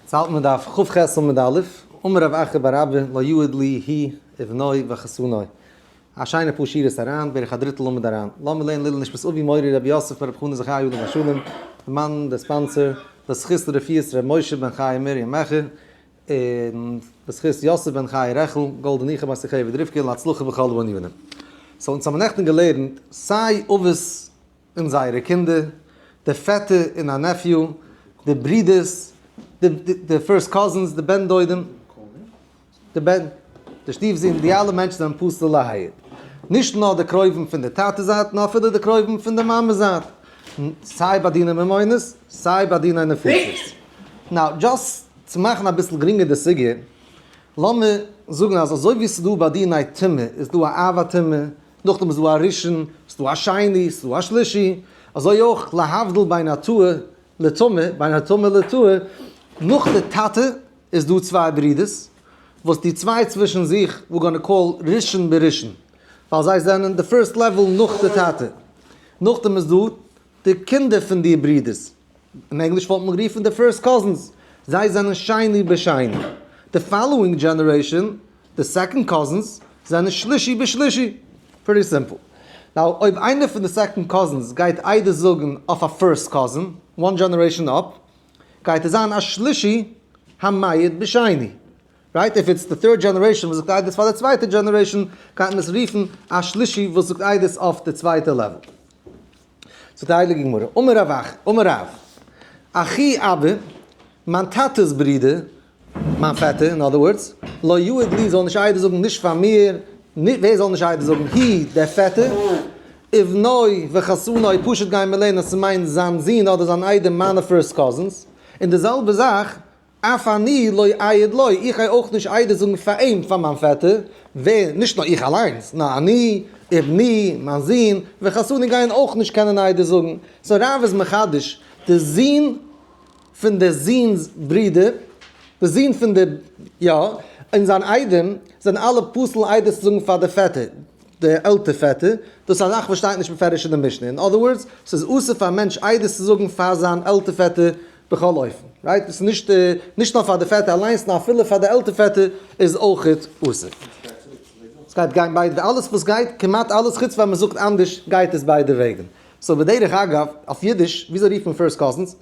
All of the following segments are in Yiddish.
ס'האלט מען דף ח ח עמוד א', אמר רב אחר בר אבא לא יעד לי הי' אבנוי וחתנוי, א שיינע פאר שורות אריין, בערך א דריטל עמוד אריין, לאמיר לערנען לעיל נשמת אבי מורי רבי יוסף בן רבי חנא זכרי' עליו השלום, די מאן די ספאנסער, בזכות לרפואת רבי משה בן חיה מרים מעכער, און בזכות יוסף בן חיה רעכל, גאלדע ניחא ביי שיחיו ודריווקא, להצלחה בכל ענינים. סאו אונז האמיר נעכטן געלערנט סיי אבות און זייערע קינדער, די פעטער און א נעפיו, די ברודערס, די פירסט קאזינס, די בן דודים, די בן, די שטיף זון, די אלע מענטשן זענען פסול להיד. נישט נאר די קרובים פון די טאטע זייט, נאר אפילו די קרובים פון די מאמע זייט, סיי ביי דיני ממונות, סיי ביי דיני נפשות. נאו, דזשאסט צו מאכן אביסל גרינגער די סוגיא, לאמיר זאגן אז אזוי ווי ס'איז דא ביי דיני טומאה, איז דא א אב הטומאה, נאכדעם איז דא א ראשון, ס'איז דא א שני, ס'איז דא א שלישי, אזוי אויך להבדיל בין הטועה לטמא, בין הטמא לטועה, נאך די טאטע איז דא צוויי ברידערס, וואס די צוויי צווישן זיך ווי גאנע קאל ראשון בראשון, ווייל זיי זענען די פירסט לעוועל נאך די טאטע, נאכדעם איז דא די קינדער פון די ברידערס. אין ענגליש וואלט מען גערופן די פירסט קאזינס, זיי זענען שני בשני, די פאלאואינג דזשענערעישאן, די סעקאנד קאזינס, זענען שלישי בשלישי. פריטי סימפל. נאו, אויב איינער פון די סעקאנד קאזינס גייט איידער זאגן אויף א פירסט קאזין, וואן דזשענערעישאן אפ, גייט ער זיין א שלישי המעיד בשני. רייט? איף איטס די טירד דזשענערעישאן וואס זאגט איידעס פאר די צווייטע דזשענערעישאן, גייט מען עס רופן א שלישי וואס זאגט איידעס אויף די צווייטע לעוועל. זאגט די הייליגע גמרא, אמר רב אחי, אמר רב, אחי אבי, מיין טאטע'ס ברודער, מיין פעטער, אין אדער ווארדס, לא יעיד לי, זאל נישט עדות זאגן נישט פאר מיר, ווער זאל נישט עדות זאגן? הי, דער פעטער, ובנו וחתנו, פשוט גיימער לערנען אז ס'מיינט זיין זון אדער זיין איידעם מיינע פירסט קאזינס, און די זעלבע זאך אף אני לא אעיד לו, איך גיי אויך נישט עדות זאגן פאר אים, פאר מיין פעטער. ווער? נישט נאר איך אליינס, נאר אני, ובני, מיין זון, וחתני גייען אויך נישט קענען עדות זאגן. סאו רב איז מחדש, די זון פון די זון'ס ברודער, די זון פון די, יא, און זיין איידעם, זענען אלע פסול עדות צו זאגן פאר די פעטער, די עלטער פעטער. דאס איז א זאך וואס שטייט נישט בפירוש אין די משנה. אין אדער ווארדס, ס'איז אסור פאר א מענטש עדות צו זאגן פאר זיין עלטער פעטער, בכל אופן, רייט? עס איז נישט נישט נאר פאר די פעטער אליינס נאר אפילו פאר די עלטער פעטער איז אויכעט אסור. עס גייט גיין ביידע וועגן. אלעס וואס גייט, כמעט אלעס, חוץ פאר מען זאגט אנדערש, גייט עס ביידע וועגן. סאו בדרך אגב, אויף אידיש, וויאזוי רופט מען פירסט קאזינס?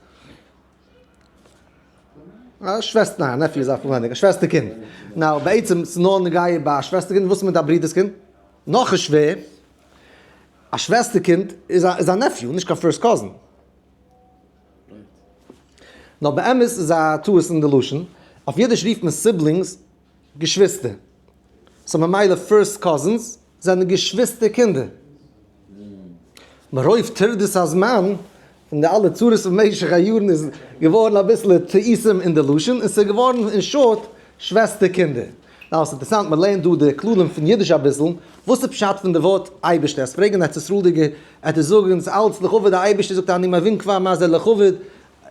א שוועסטער, ניין, א נעפיו איז א פארנעם, א שוועסטער קינד. נאו, בעצם איז נאר נוגע ביי א שוועסטער קינד, וואס איז מיט א ברודער'ס קינד? נאך א שווער? א שוועסטער קינד איז א נעפיו, נישט קיין פירסט קאזין. נאר באמת איז א טעות אין די לשון, אויף אידיש רופט מען סיבלינגס געשוויסטער, סאו ממילא פירסט קאזינס זענען געשוויסטער קינדער, מרוב טרדות הזמן און די אלע צרות במשך היארן איז געווארן אביסלע טעותים אין די לשון און ס'איז געווארן אין שארט שוועסטער קינדער. נאר עס אינטערסאנט מען לערנט דא די כללים פון אידיש אביסל, וואס איז פשט פון די ווארט אייבערשטער? עס פרעגן ארץ ישראלדיגער, ער טוט זאגן אונז אלץ לכבוד די אייבערשטער זאגט ער אני מבין כבר מה זה לכבוד,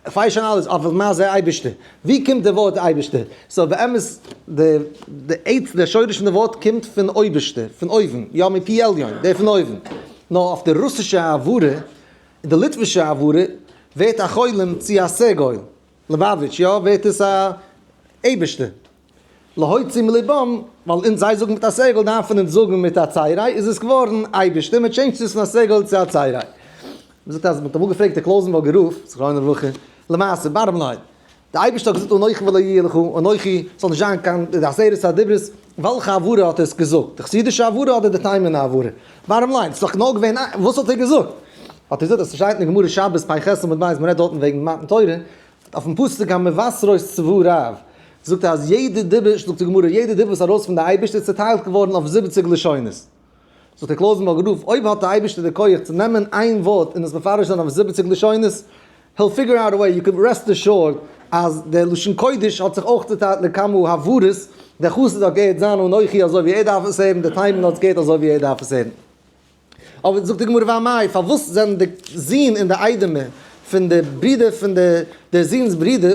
כ'ווייס שוין אלעס אבער מה זה אייבערשטער? ווי קומט די ווארט אייבערשטער? סאו באמת די די עצם די שורש פון די ווארט קומט פון אויבערשטער, פון אויבן, יא מפי עליון, דער פון אויבן, נאר אויף די רוסישע העברה און די ליטווישע העברה ווערט א חולם צו א סעגויל, לעבאוויטש, יא, ווערט עס א אייבערשטער. להוציא מלבם, ווייל אונז זיי זאגן מיט א סגל דארפן אונז זאגן מיט א צייריי, איז עס געווארן אייבערשטער, מען טשעינדזשט עס פון א סגל צו א צייריי. מען זאגט אז מען האט אמאל געפרעגט די קלויזענבורגער רב, זכרונו לברכה, למעשה, בארם ליין, די אייבערשטער האט געזאגט אנכי ולא יהיה לך, אנכי, ס'זאל נישט זיין קיין עשרת הדברות, וועלכע הברה האט ער עס געזאגט? די חסידישע הברה אדער די תימן'ע הברה? בארם ליין, ס'איז דאך נאר געווען איין, וואס האט ער געזאגט? האט ער געזאגט אז ס'שטייט אין גמרא שבת פ' ח עמוד ב', מען רעדט דארטן וועגן מתן תורה, אויפן פסוק המבשרות צבא רב זאגט ער אז יעדע דיבור, זאגט די גמרא, יעדע דיבור וואס איז ארויס פון די אייבערשטער איז צוטיילט געווארן אויף זיבעציג לשונות. זאגט דער קלויזענבורג רב, אויב האט די אייבערשטער די כח צו נעמען איין ווארט און עס מפרש זיין אויף זיבעציג לשונות, he'll figure out a way, יו קען רעסט אשורד אז דער לשון קודש האט זיך אויך צוטיילט לכמה הברות, דער חסיד האט געהערט זיין אנכי אזוי ווי ער דארף עס הערן, דער טיימען האט עס געהערט אזוי ווי ער דארף עס הערן. אבער זאגט די גמרא והמאי, פארוואס זענען די זון און די איידעמע פון די ברודער פון דער זונ'ס ברודער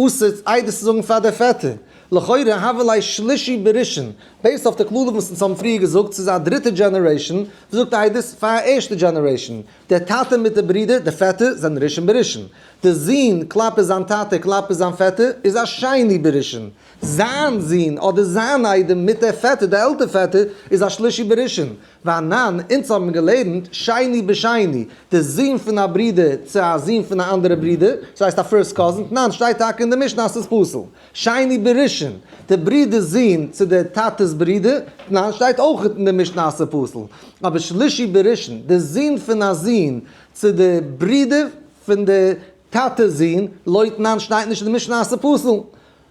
אסור עדות צו זאגן פאר דער פעטער? לכאורה הוה ליה שלישי בראשון, בעיסד אויף די כללים וואס אונז האבן פריער געזאגט, ס'איז א דריטע דזשענערעישאן וואס זאגט עדות פאר א ערשטע דזשענערעישאן, דער טאטע מיט די ברודער, די פעטער, זענען ראשון בראשון. די זון כלפי זיין טאטע כלפי זיין פעטער איז א שני בראשון. זיין זון אדער זיין איידעם מיט דער פעטער, דער עלטער פעטער, איז א שלישי בראשון. ואנן, אונז האבן געלערנט, שני בשני, די זון פון א ברודער צו א זון פון א אנדערע ברודער, דאס הייסט א פירסט קאזין, תנן, שטייט טאקע אין די משנה אז ס'איז פסול. שני בראשון, די ברודער'ס זון צו די טאטע'ס ברודער, תנן, שטייט אויך אין די משנה אז ס'איז פסול. אבער שלישי בראשון, די זון פון א זון צו די ברודער פון די טאטע'ס זון, לא תנן, שטייט נישט אין די משנה אז ס'איז פסול.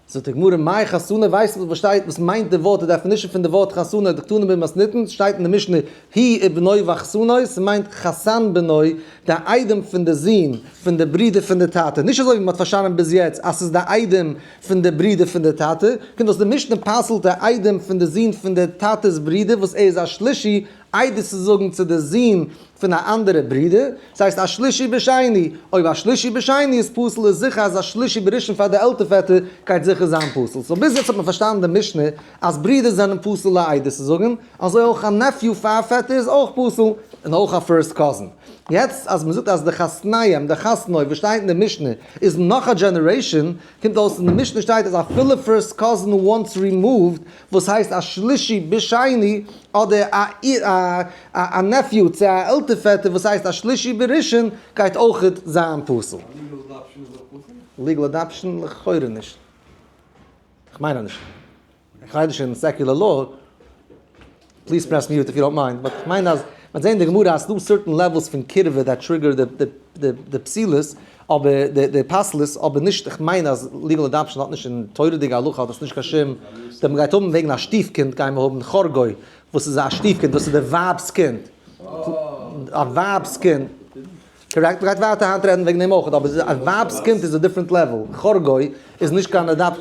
זאגט די גמרא מאי חתונה ווייסט וואס שטייט וואס מיינט די ווארט די דעפינישן פון די ווארט חתונה די קטנים בן מסניתן ס'שטייט אין די משנה הי' ובנו' ואחסנו' ס'מיינט חתן בנו די איידעם פון די זון פון די ברודער פון די טאטע נישט אזוי ווי מ'האט פארשאנען ביז יעצט אז ס'איז די איידעם פון די ברודער פון די טאטע קומט אויס די משנה פסל'ט די איידעם פון די זון פון די טאטע'ס ברודער וואס ער איז א שלישי עדות צו זאגן צו די זון פון א אנדערע ברודער, דאס הייסט א שלישי בשני, אויב א שלישי בשני איז פסול איז זיכער אז א שלישי בראשון פאר די עלטער פעטער גייט זיכער זיין פסול, סאו ביז יעצט האט מען פארשטאנען די משנה אז ברודער זענען פסול א עדות צו זאגן, אזוי אויך א נעפיו פאר א פעטער איז אויך פסול, און אויך א פירסט קאזין. יעצט אז מען זאגט אז די חתניים, די חתנו וואס שטייט אין די משנה, איז נאך א דזשענערעישאן, קומט אויס אין די משנה שטייט אז אפילו פירסט קאזין וואנס רימאווד, וואס הייסט א שלישי בשני, אדער א נעפיו צו א עלטער פעטער וואס הייסט א שלישי בראשון גייט אויך זיין פסול? א ליגעל אדאפשען איז אויך פסול? ליגעל אדאפשען לכאורה נישט. כ'מיין אז נישט. כ'רייד נישט אין סעקולער לאו. פליז פרעס מיוט איף יו דאנט מיינד, באט כ'מיין אז מ'האט געזען אין די גמרא אז ס'דא סערטען לעוועלס פון קירבה דעט טריגער די פסילות אבער די פסלות אבער נישט כ'מיין אז ליגעל אדאפשען האט נישט און תורה'דיגע הלכה האט עס נישט קיין שום די מ'גייט האבן וועגן א שטיף קינד גיימער האבן חרגוי וואס איז א שטיף קינד דאס איז די ווייב'ס קינד א ווייב'ס קינד. קארעקט, מ'גייט ווייטער היינט רעדן וועגן דעם אויך, אבער זי איז א ווייב'ס קינד איז א דיפרענט לעוועל, חרגוי איז נישט קיין אדאפט,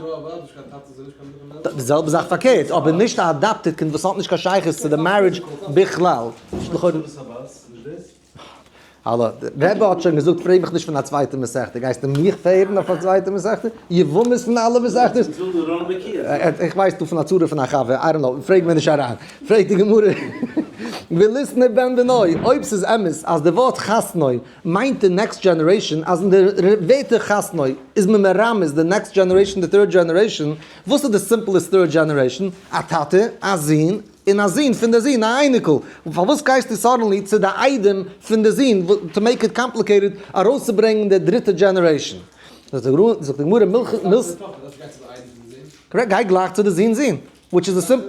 די זעלבע זאך פארקערט, אבער נישט א אדאפטעד קינד וואס האט נישט קיין שייכות צו די מערידזש בכלל. האלא, דער רבי האט שוין געזאגט פרעג מיך נישט פון א צווייטע מסכתא, גייסטו מיך פרעגן אויף א צווייטע מסכתא? יבמות פון אלע מסכתות? איך ווייס דא פון א צרה פון א חבר, איי דאנט קנאו, פרעג מיר נישט אריין. פרעגט די גמרא, ולסנה בן בנוי, אויב ס'איז אמת אז די ווארט חתנו מיינט די נעקסט דזשענערעישאן, אז אין די ר ר ווערטער חתנו איז מען מרמז די נעקסט דזשענערעישאן, די טריד דזשענערעישאן, וואס איז די סימפלעסט טריד דזשענערעישאן? א טאטע, א זון, און א זון פון די זון, א אייניקל. פארוואס גייסטו סאדענלי צו די איידעם פון די זון, טו מעיק איט קאמפליקעיטעד, ארויסצוברענגן די דריטע דזשענערעישאן? זאגט די גמרא, מילכיג. גיי גלייך צו די זון זון. וויטש איז די סימ.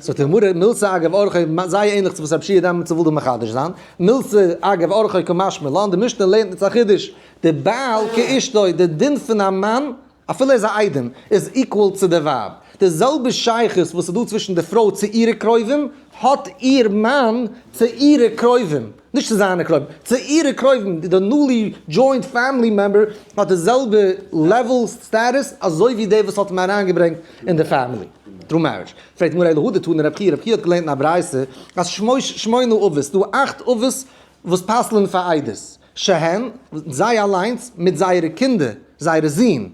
זאגט די גמרא מילתא אגב אורחא זייער ענליך צו וואס רב שיע דיין מצא וויל דא מחדש זיין, מילתא אגב אורחא כמשמע לן די משנה לערנט אונז א חידוש, די בעל כאשתו די דין פון א מאן אפילו ער איז א איידעם איז איקוואל צו די ווייב, די זעלבע שייכות וואס איז דא צווישן די פרוי צו אירע קרובים האט איר מאן צו אירע קרובים. נישט צו זיינע קרויבן, צו אירע קרויבן, די נולי דזשוינט פעמילי מעמבער האט די זעלבע לעוועל סטאטוס אזוי ווי דער וואס האט אים אריינגעברענגט אין די פעמילי טרו מערידזש. פרעגט מראה להדא תנא רב חייא, רב חייא האט געלערנט אין א ברייתא אז שמש שמונה אבות, דא אכט אבות וואס פסל'ן פאר איידערס, שהן, זיי אליינס מיט זייערע קינדער, זייערע זין,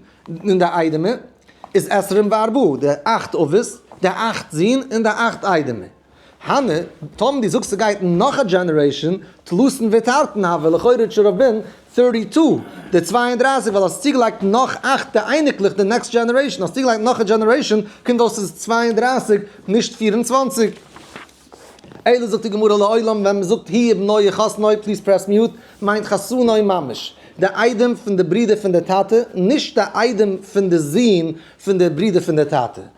און די איידעמער, איז עשרים וארבעה, די אכט אבות, די אכט זין און די אכט איידעמער. הנה, טאמער דו זאגסט ס'גייט נאך א דזשענערעישאן, תלותן ותרתן הוה, לכאורה איז שוין רבין פירטי טו, די צוויי און דרײַסיק, ווייל האסט צוגעלייגט נאך אכט, די אייניקלעך, די נעקסט דזשענערעישאן, האסט צוגעלייגט נאך א דזשענערעישאן, קומט אויס ס'איז צוויי און דרײַסיק, נישט פֿיר און צוואַנציק. אלא זאגט די גמרא לעולם ווען מ'זאגט הי' בניה חתנאי פליז פרעס מיוט, מיינט חתנאי ממש די איידעם פון די ברודער פון די טאטע, נישט די איידעם פון די זון פון די ברודער פון די טאטע.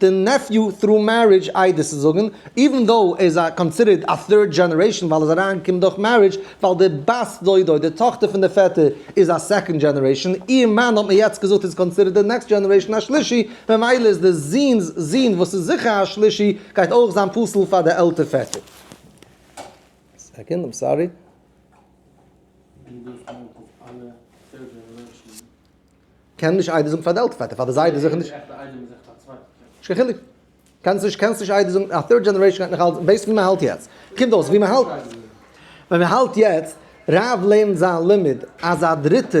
די נעפיו טרו מערידזש איידעס זאגן איווען דאו ער איז א קאנסידערט א טירד דזשענערעישאן ווייל ער איז אריין געקומען דורך מערידזש ווייל די בת דודו די טאכטער פון די פעטער איז א סעקאנד דזשענערעישאן איר מאן האט מען יעצט געזאגט איז קאנסידערט די נעקסט דזשענערעישאן א שלישי ממילא איז די זון'ס זון וואס איז זיכער א שלישי גייט אויך זיין פסול פאר די עלטער פעטער. קען נישט איידער זאגן פאר די עלטער פאר די זיידע זיכער נישט. נישט קיין חילוק. קענסט נישט קענסט נישט איידער זאגן א טירד דזשענערעישן גייט נאכאלץ בעיסד ווי מען האלט יעצט קומט אויס ווי מען האלט ווען מען האלט יעצט רב לערנט זיין לימוד אז א דריטע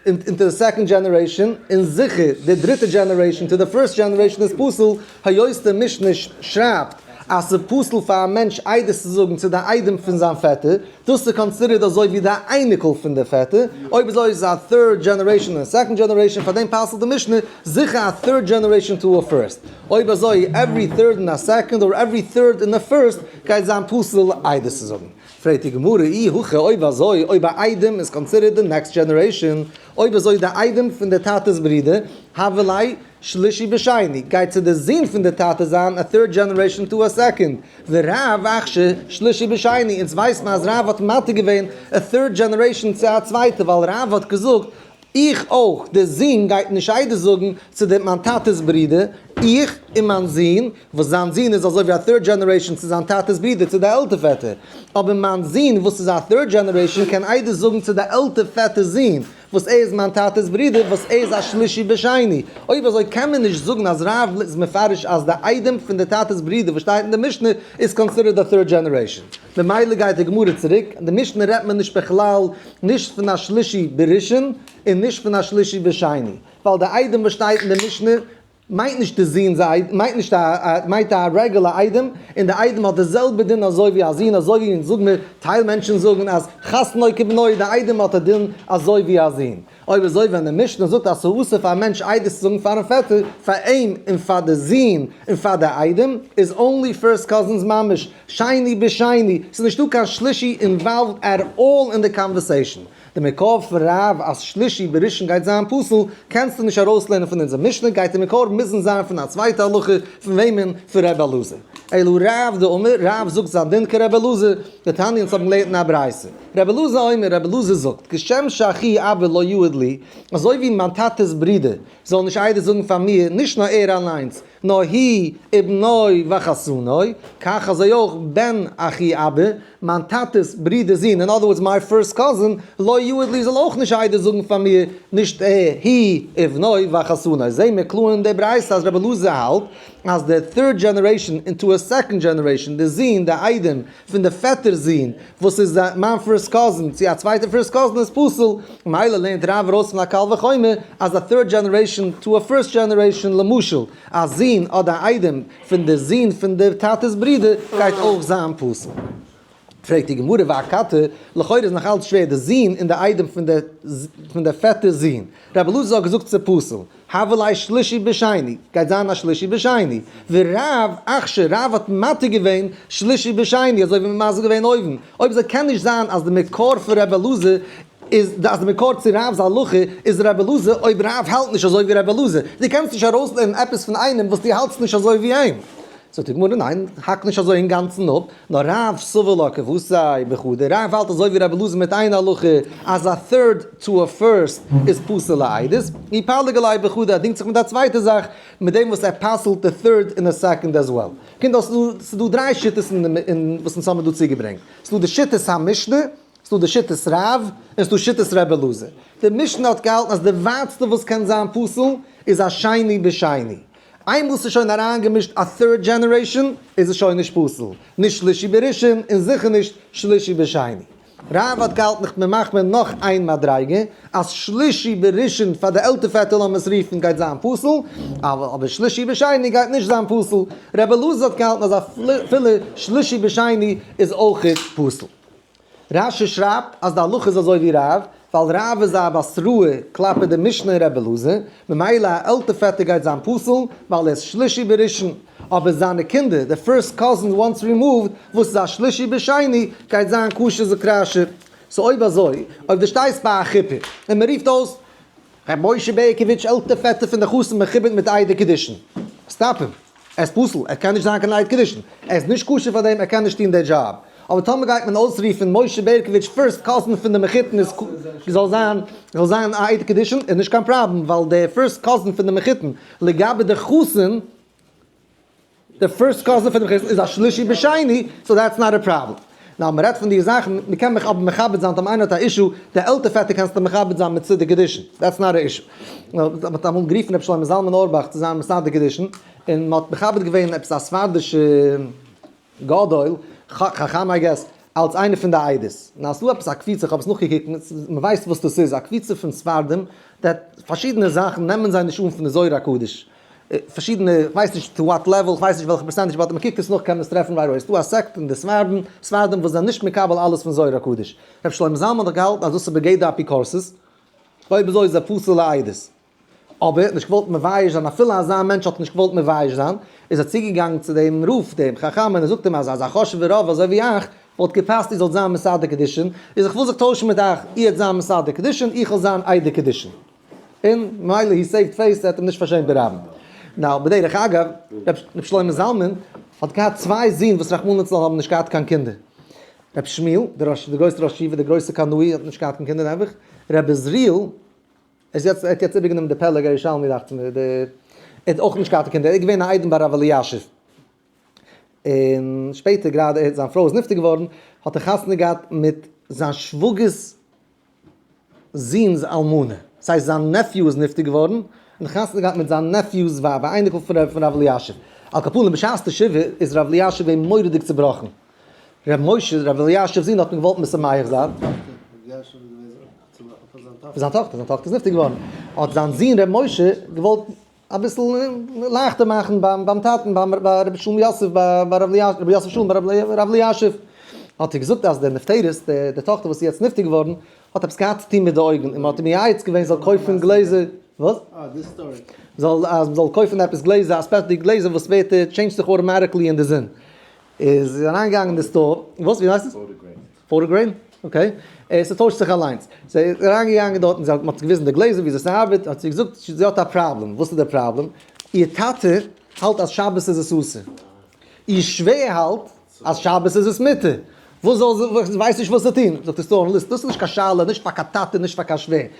אינטו די סעקאנד דזשענערעישן און זיכער די דריטע דזשענערעישן טו די פירסט דזשענערעישן איז פסול היות די משנה שרייבט אז ס'איז פסול פאר א מענטש עדות צו זאגן צו די איידעם פון זיין פעטער, דאס איז קאנסידערט אזוי ווי די אייניקל פון די פעטער, אויב אזוי איז עס א third generation און second generation, פאר דעם פסל'ט די משנה זיכער א third generation to a first, אויב אזוי every third און א second or every third און א first גייט זיין פסול עדות צו זאגן. פרעגט די גמרא, אי הכא אויב אזוי אויב א איידעם איז קאנסידערט די next generation, אויב אזוי די איידעם פון די טאטעס ברודער, הבל אי שלישי בשני, גייט צו די זון פון די טאטע זיין א third generation to a second, ורב אכש שלישי בשני, אונז ווייסט מען אז רב האט מתיר געווען א third generation צו א צווייטע ווייל רב האט געזאגט איך אויך, די זון גייט נישט איידער זאגן צו די מיין טאטעס ברודער, איך און מיין זון, וואס זיין זון איז אזוי ווי א טירד דזשענערעישאן צו זיין טאטע'ס ברודער צו די עלטער פעטער, אבער מיין זון וואס איז א טירד דזשענערעישאן קען איידער זאגן צו די עלטער פעטער'ס זון וואס ער איז מיין טאטע'ס ברודער וואס ער איז א שלישי בשני, אויב אזוי קען מען נישט זאגן אז רב ל איז מפרש אז די איידעם פון די טאטע'ס ברודער וואס שטייט אין די משנה איז קאנסידערט א טירד דזשענערעישאן. ממילא גייט די גמרא צוריק, אין די משנה רעדט מען נישט בכלל נישט פון א שלישי בראשון און נישט פון א שלישי בשני, ווייל די איידעם וואס שטייט אין די משנה מיינט נישט די זון זיין איידעם, מיינט נישט א א מיינט א רעגולע איידעם, און די איידעם האט די זעלבע דין אזוי ווי א זון, אזוי ווי אונז זאג מיר טייל מענטשן זאגן אז חתנו כבנו, די איידעם האט א דין אזוי ווי א זון, אויב אזוי ווען די משנה זאגט אז ס'איז אסור פאר א מענטש איידעס צו זאגן פארן פעטער, פאר אים און פאר די זון און פאר די איידעם, איז אנלי פירסט קאזינס ממש שני בשני, ס'איז נישטא קיין שלישי אינוואלווד עט אלל אין די קאנווערסעישן, די מקור פון רב אז שלישי בראשון גייט זיין פסול, קענסטו נישט ארויסלערנען פון אונזער משנה, גייט די מקור מוזן זיין פון א צווייטע הלכה, פון וועמען? פון ר' אלעזר. אלא רב דאמר, רב זאגט זיין דין כר' אלעזר, די תניא אונז האבן געלערנט אין א ברייתא, ר' אלעזר אומר, ר' אלעזר זאגט, כשם שאחי אבי לא יעיד לי, אזוי ווי מיין טאטע'ס ברודער זאל נישט עדות זאגן פאר מיר, נישט נאר ער אליינס, נאר הי' ובנו וחתנו, כך אזוי אויך בן אחי אבי, מיין טאטע'ס ברודער'ס זון, אין אדער ווארדס מיי פירסט קאזין, לוי יהוד לי זאל אויך נישט איידער זאגן פאר מיר, נישט ער, היא, ובניו וחתניו. זעהן מיר קלאר אין די ברייתא אז רבי אלעזר האלט אז די third generation into a second generation, די זון, די איידעם, פון די פעטער'ס זון, וואס איז מיין פירסט קאזין, צו א צווייטע פירסט קאזין איז פסול. ממילא לערנט רב ארויס פון א קל וחומר אז א third generation to a first generation, למשל, א זון אדער א איידעם, פון דער זון פון דער טאטע'ס ברודער גייט אויך זיין פסול. פרעגט די גמרא והכתר, לכאורה איז נאך אלץ שווער דער זון און דער איידעם פון דער פון דער פעטער'ס זון. רבי אלעזר האט געזאגט ס'איז פסול. הוה ליה שלישי בשני, גייט זיין א שלישי בשני. ורב אכשר רב האט מתיר געווען שלישי בשני, אזוי ווי מ'מסביר געווען אויבן. אויב זיי קען נישט זיין אז דער מקור פון רבי אלעזר איז אז די מקור צו רב'ס הלכה איז רבי אלעזר, אויב רב האלט נישט אזוי ווי רבי אלעזר, דו קענסט נישט ארויסלערנען עפעס פון איינעם וואס דו האלטסט נישט אזוי ווי אים. זאגט די גמרא ניין, האק נישט אזוי אינגאנצן אפ, נאר רב סובר לא כבשי וכו', דער רב האלט אזוי ווי רבי אלעזר מיט איין הלכה, אז א third to a first איז פסול לעדות, אי פלג אולי וכו', ער דינגט זיך מיט א צווייטע זאך, מיט דעם וואס ער פסל'ט די third און די second as well. קינדער ס'איז דא דריי שיטות אין וואס אונז האבן דא צוגעברענגט, ס'איז דא די שיטת המשנה, ס'דא די שיטת רב און ס'דא שיטת רבי אלעזר. די משנה האט געהאלטן אז די ווייטסטע וואס קען זיין פסול איז א שני בשני. איינמאל ס'איז שוין אריינגעמישט א third generation איז עס שוין נישט פסול. נישט שלישי בראשון און זיכער נישט שלישי בשני. רב האט געהאלטן איך בין מחמיר נאך איין מדריגה אז שלישי בראשון פאר די עלטער פעטער לאמיר עס רופן גייט זיין פסול אבער שלישי בשני גייט נישט זיין פסול. רבי אלעזר האט געהאלטן אז אפילו שלישי בשני איז אויך פסול. רש י שרייבט אז די הלכה איז אזוי ווי רב, ווייל רב איז א בת רעה כלפי די משנה און רב אלעזר, ממילא א עלטער פעטער גייט זיין פסול ווייל ער איז שלישי בראשון, אבער זיינע קינדער, די פירסט קאזינס וואנס רימאווד, וואס איז א שלישי בשני, גייט זיין כשר זו קרשה. סאו אויב אזוי, אויב דו שטייסט ביי א חופה, און מען רופט אויס רבי משה בערקאוויטש עלטער פעטער פון די חתן מכובד מיט איידער קידושין, סטאפ אים. ער איז פסול, ער קען נישט זיין קיין עד קידושין, ער איז נישט כשר פאר דעם, ער קען נישט טון די דזשאב. אבער טאמער גייט מען אויסרופן משה בערקאוויטש פירסט קאזין פון די מחותן איז ק י זאל זיין זאל זיין א עד קידושין איז נישט קיין פראבלעם ווייל די פירסט קאזין פון די מחותן לגבי די חתן די פירסט קאזין פון די מחותן איז א שלישי בשני סאו דעטס נאט א פראבלעם. נאר מען רעדט פון די זאכן, מען קען מיך אבער מכבד זיין טאמער איינער האט א אישו, די עלטער פעטער קענסטו מכבד זיין מיט סדר קידושין, דעטס נאט א אישו. מען האט אמאל גערופן ר' שלמה זלמן אורבאך צו זיין מסדר קידושין, און מען האט מכבד געווען עפעס א ספרדישע גדול, חכם איי געס, אלס איינער פון די עדות. און אז ס'איז דא עפעס א קפיצה, כ'האב עס נאכגעקוקט, מען ווייסט וואס דאס איז, א קפיצה פון ספרדים, פארשידענע זאכן נעמען זיי נישט אן פון די זוהר הקדוש, פארשידענע, איך ווייס נישט טו וואט לעוועל, איך ווייס נישט וועלכע פערסענטעדזש, באט ווען מ'קוקט עס נאך קען מען עס טרעפן ווייל אויס דא א סעקט אין די ספרדים, ספרדים וואס זענען נישט מקבל אלעס פון זוהר הקדוש. רבי שלמה זלמן האט דאך געהאלטן אז דאס איז בגדר אפיקורסות, אויב אזוי איז ער פסול לעדות. אבער, נישט געוואלט מבייש זיין אפילו אזא מענטש האט נישט געוואלט מבייש זיין, איז ער צוגעגאנגען צו דעם רב דעם חכם און ער זאגט אים אז אזא חשוב'ע רב אזוי ווי איך, וואלט געפאסט איר זאלט זיין מסדר קידושין, איז איך וויל זיך טוישן מיט אייך, איר זיין מסדר קידושין, איך וועל זיין איידער קידושין. און מילא הי סעיווט פעיס ער האט אים נישט פארשעמט די רבי. נאו בדרך אגב, רבי שלמה זלמן האט געהאט צוויי זין וואס רחמנא לצלן האבן נישט געהאט קיין קינדער. רבי שמואל דער ראש דער גרויסער ראש ישיבה דער גרויסער קנאי האט נישט געהאט קיין קינדער נעבעך. רבי עזריאל ער איז יעצט ער האט יעצט איבערגענומען די פלג הירושלמי דאכט מיר דער ער האט אויך נישט געהאט די קינדער ער איז געווען א איידעם ביי רבי אלישיב. און שפעטער גראדע ער האט זיין פרוי איז נפטר געווארן האט ער חתונה געהאט מיט זיין שוואגערס זון'ס אלמנה, דאס הייסט זיין נעפיו איז נפטר געווארן, און חתונה געהאט מיט זיין נעפיו'ס ווייב, א אייניקל פון ר' אלישיב. על כל פנים בשעת די שבעה איז ר' אלישיב געווען מורא'דיג צובראכן. ר' משה, ר' אלישיב זון, האט אים געוואלט משמח זיין. פון זיין טאכטער, זיין טאכטער איז נפטר געווארן, האט זיין זון ר' משה געוואלט. אביסל לייכטער מאכן ביים טאטן ביי רבי שלום יוסף ביי רבי יוסף שלום ביי רבי אלישיב, האט ער געזאגט אז די נפטרת די טאכטער וואס איז יעצט נפטר געווארן האט עפעס געהאט צו טון מיט די אויגן און מען האט אים מייעץ געווען זאל קויפן גלעזער, וואס? אה די סטארי. זאל אז מען זאל קויפן עפעס גלעזער א ספעציעלע גלעזער וואס ווערט טשעינדזשט זיך אוטאמאטיקלי אין די זון, איז אריינגעגאנגען אין די סטאר, וואס ווי הייסט עס? פארע גרעין? אקעי. ס'טוישט זיך אליינס. זי איז אריינגעגאנגען דארט און זיי האבן, מ'האט געוויזן די גלעזער וויאזוי ס'ארבעט, האט זי געזאגט זי האט א פראבלעם. וואס איז די פראבלעם? איר טאטע האלט אז שבת איז עס אסור. איר שווער האלט אז שבת איז עס מותר. וואס זאל זי, זי ווייסט נישט וואס צו טון. זאגט די סטאר אנאליסט, דאס איז נישט קיין שאלה, נישט פאר קיין טאטע, נישט פאר קיין שווער.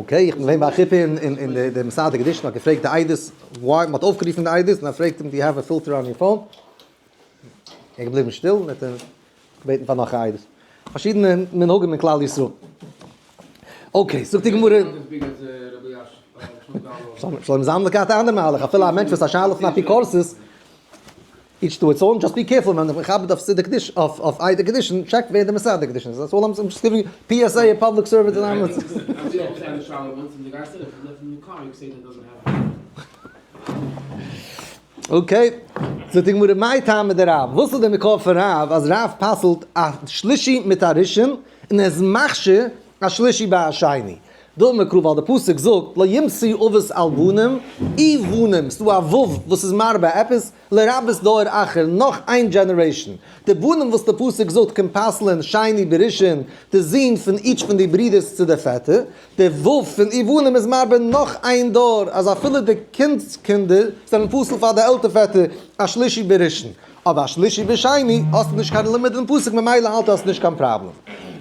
אקעי, איך בין געווען ביי א חופה און די מסדר הקידושין האט געפרעגט די איידעס וויי, מ'האט אויפגערופן די איידעס און ער פרעגט אים דו יו העוו א פילטער אן יור פאון? ער איז געבליבן שטיל און האט געבעטן פאר נאך א איידעס. פארשידענע מנהגים אין כלל ישראל. אקעי, זאגט די גמרא. שלום זאמד האט געהאט א אנדער מהלך, אפילו א מענטש וואס האט א שאלה פון אפיקורסות. איטש טו איטס און, דזשאסט בי קערפול ווען די מכבד אויף סידור קדוש אויף איידער קידושין טשעקט ווער די מסדר קידושין איז, דעטס אלל איים דזשאסט גיווינג פי עס עי און פובליק סערוויס אנאונסמענט. אקעי, זאגט די גמרא מאי טעמא דרב, וואס איז די מקור פון רב אז רב פסל'ט א שלישי מיט א ראשון און ער איז מכשיר א שלישי ביי א שני? דא איז מען קלאר ווייל די פסוק זאגט לא ימציא אבות על בנים אי בנים, ס'דא א ו' וואס איז מרבה עפעס, לרבות דור אחר, נאך איין דזשענערעישאן. די בנים וואס די פסוק זאגט קומט פסל'ען שני בראשון, די זון פון איטש פון די ברודערס צו די פעטער. די ו' פון אי בנים איז מרבה נאך איין דור, אז אפילו די קינד'ס קינדער זענען פסל פאר די עלטער פעטער, א שלישי בראשון. אבער א שלישי בשני האסטו נישט קיין לימוד אין פסוק ממילא האלט עס נישט קיין פראבלעם.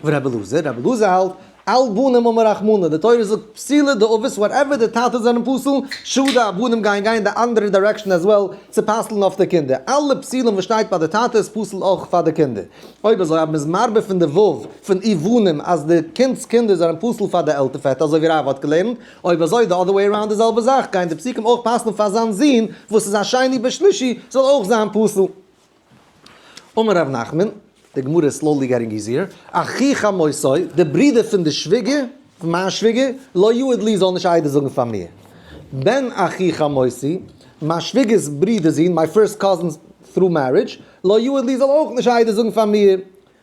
ור' אלעזר, ר' אלעזר האלט על בנים האבן רחמנות, די תורה זאגט פסילה דאבות וואטעווער די טאטעס זענען פסול, שאדע א בנים גייען גיין די אנדערע דיירעקשאן אז וועל צו פסל'ן אויף די קינדער, אלע פסילין וואס שטייט ביי די טאטע איז פסול אויך פאר די קינדער, אויב אזוי אז מען איז מרבה פון די וו פון אי בנים אז די קינד'ס קינדער זענען פסול פאר די עלטער פעטער אזוי ווי רייווא האט געלערנט, אויב אזוי די אדער וועי אראונד די זעלבע זאך גייען די פסוקים אויך פסל'ן פאר זיין זון וואס איז א שני בשלישי זאל אויך זיין פסול. אמר ר' נחמן, די גמרא איז סלאולי געטינג איזיער, אחי חמוסי, די ברודער פון די שוויגער, פון מיין שוויגער, לא יעיד לי זאל נישט עדות זאגן פאר מיר. בן אחי חמוסי, מיין שוויגער'ס ברודער'ס זון, מיי פירסט קאזינ'ס through marriage, לא יעיד לי זאל אויך נישט עדות זאגן פאר מיר.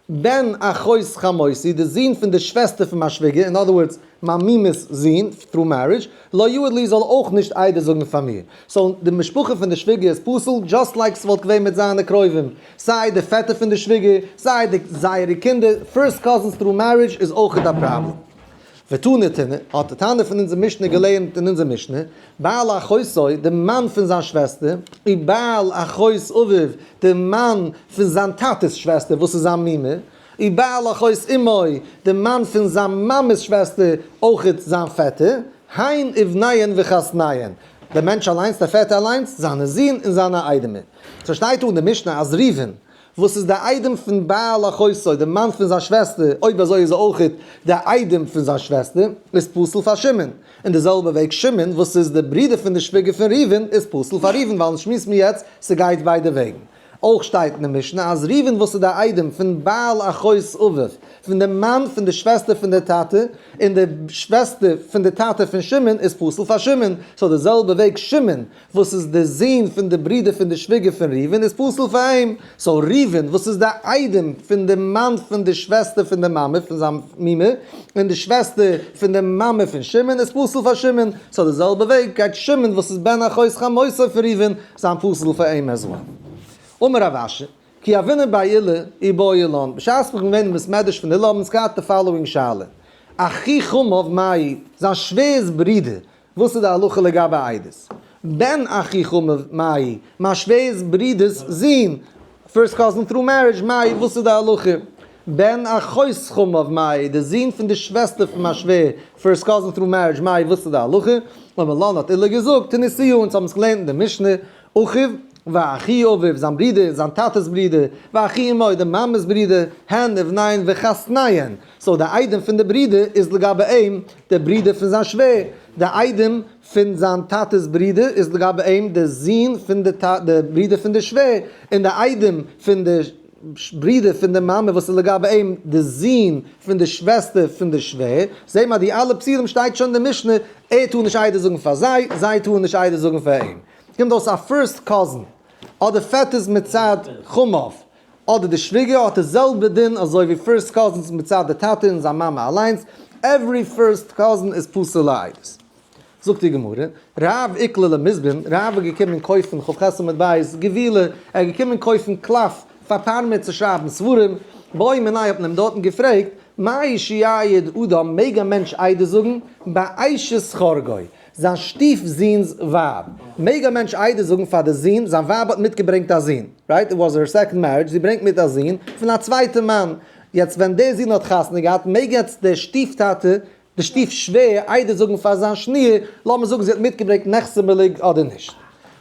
בן אחות חמותי, די זון פון די שוועסטער פון מיין שוויגער, אין אדער ווארדס, מיין מומע'ס זון, through marriage, לא יועד לי זאל אויך נישט איידער זאגן פאר מיר. סאו, די משפחה פון די שוויגער איז פסול דזשאסט לייק ס'וואלט געווען מיט זיינע קרובים. סיי די פעטער פון די שוויגער, סיי די זייערע קינדער, פירסט קאזינס through marriage איז אויכעט א פראבלעם. ותנתנה, האט די תנא פון אונזער משנה געלערנט אין אונזער משנה, בעל אחותו, די מאן פון זיין שוועסטער, ובעל אחות אביו, די מאן פון זיין טאטע'ס שוועסטער וואס איז זיין מומע, ובעל אחות אמו, די מאן פון זיין מאמע'ס שוועסטער, אויכעט זיין פעטער, הן אבניהן וחותניהן, דער מענטש אליינס, דער פעטער אליינס, זיינע זין און זיינע איידעמער. ס'שטייט דא אין די משנה אז ראובן, וואס איז די איידעם פון בעל אחותו, די מאן פון זיין שוועסטער, אויב אזוי איז ער אויך די איידעם פון זיין שוועסטער, איז פסול פאר שמעון, און די זעלבע וועג שמעון וואס איז די ברודער פון די שוויגער פון ראובן איז פסול פאר ראובן, ווייל אונז שמועסן מיר יעצט ס'גייט ביידע וועגן. אויך שטייט אין די משנה אז ראובן וואס איז די איידעם פון בעל אחותו, פון די מאן פון די שוועסטער פון די טאטע, און די שוועסטער פון די טאטע פון שמעון איז פסול פאר שמעון, סאו די זעלבע וועג שמעון וואס איז די זוהן פון די ברודער פון די שוויגער פון ראובן איז פסול פאר אים, סאו ראובן וואס איז די איידעם פון די מאן פון די שוועסטער פון די מאמע פון זיין מומע, און די שוועסטער פון די מאמע פון שמעון איז פסול פאר שמעון, סאו די זעלבע וועג גייט שמעון וואס איז בן אחות חמותי פון ראובן זיין פסול פאר אים עז וועל. אמר רב אשר, כי אבינו באי הילל אי באי אילן, בשעת מ'איז געווען אין בית מדרש פון הילל האבן אונז געהאט די פאלאווינג שאלה, אחי חמיו מאי, זיין שווער'ס ברודער, וואס איז די הלכה לגבי עדות? בן אחיך מאי, מיין שווער'ס ברודער'ס זון, פירסט קאזין טרו מערידזש, מאי, וואס איז די הלכה? בן אחותך מאי, די זון פון די שוועסטער פון מיין שווער, פירסט קאזין טרו מערידזש, מאי, וואס איז די הלכה? אמר לן האט אילן געזאגט, תנסי אן, אונז האבן עס געלערנט אין די משנה, אחיו, ואחי אביו, זיין ברודער, זיין טאטע'ס ברודער, ואחי אמו, די מאמע'ס ברודער, הן, אבניהן, וחתניהן. סאו די איידעם פון די ברודער איז לגבי אים די ברודער פון זיין שווער, די איידעם פון זיין טאטע'ס ברודער איז לגבי אים די זון פון די ברודער פון די שווער, און די איידעם פון די ברודער פון די מאמע וואס איז לגבי אים די זון פון די שוועסטער פון די שווער, זעה מיר אז די אלע פסולים שטייט שוין אין די משנה, ער טאר נישט עדות זאגן פאר זיי, זיי טארן נישט עדות זאגן פאר אים. ס'קומט אויס א פירסט קאזין, אדער פעטערס מצד חמוו, אדער די שוויגער האט די זעלבע דין אזוי ווי פירסט קאזינס מצד די טאטע און זיין מאמע אליינס, עווערי פירסט קאזין איז פסול לעדות. זאגט די גמרא, רב עיקלה למזבן, רב איז געקומען קויפן כב חסד עמוד ב', געווילע, ער איז געקומען קויפן קלף פאר פארמער צו שרייבן ספרים, באי מיניה האט מען אים דארטן געפרעגט, מאי שיעיד אדם, מעג א מענטש עדות זאגן, באישת חרגו? זיין שטיף זון'ס ווייב. מעג א מענטש עדות זאגן פאר די זון, זיין ווייב האט מיטגעברענגט א זון, רייט? איט וואס הער סעקאנד מערידזש, זי ברענגט מיט א זון, פון א צווייטע מאן. יעצט ווען דער זון האט חתונה געהאט, מעג יעצט דער שטיף טאטע, די שטיף שווער, עדות זאגן פאר זיין שניר, לאמיר זאגן זי האט מיטגעברענגט נחשונמלג אדער נישט?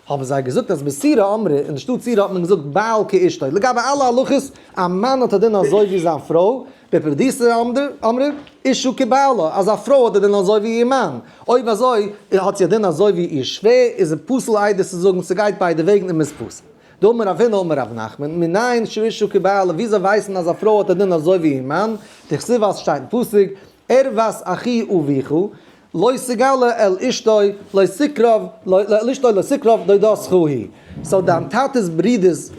האבן זיי געזאגט אז בסירא אמרי, אין די שטאט סירא האט מען געזאגט בעל כאשתו, לגבי אלע הלכות, א מאן האט א דין אזוי ווי זיין פרוי, בפרדיסתא אמרי אישא כבעלה, אז א פרוי האט די דין אזוי ווי איר מאן, אויב אזוי האט זי א דין אזוי ווי איר שווער, איז עס פסול איידער צו זאגן ס'גייט ביידע וועגן און מ'איז פסול. דאמר רב הונא אמר רב נחמן, מנין שאישא כבעלה, וויאזוי ווייסט מען אז א פרוי האט א דין אזוי ווי איר מאן, דכתיב ווייל ס'שטייט אין פסוק, ערוות אחי אביכו, לא סגל אל אשתו לא סקרב, לא אל אשתו לא סקרב דודו סכו היא, סאו דיין טאטע'ס ברודער'ס.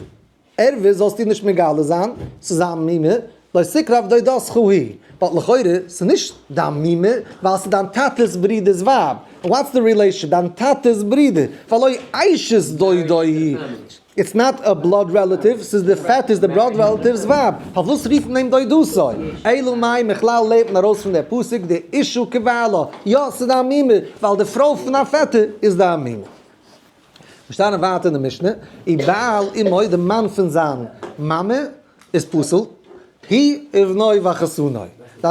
ערבות זאלסטו נישט מגלה זיין צו זיין מומע, לא סיקרא עבדא דסכא היא, באט לכאורה ס'נישט דיין מומע ווייל ס'איז דיין טאטע'ס ברודער'ס ווייב, וואטס די רילעישאן, דיין טאטע'ס ברודער, ולא אשת דודו היא, איטס נאט א בלאד רעלאטיוו, ס'איז די פעטער איז די בלאד רעלאטיוו'ס ווייב, פארוואס רופט מען אים דודוסו? אלא מאי מכלל לערנט מען ארויס פון די פסוק די אישו כבעלה, יא ס'איז דיין מומע ווייל די פרוי פון דיין פעטער איז דיין מומע. מיר שטייען ווייטער אין די משנה, און בעל אמו די מאן פון זיין מאמע איז פסול, היא ובנו וחתנו.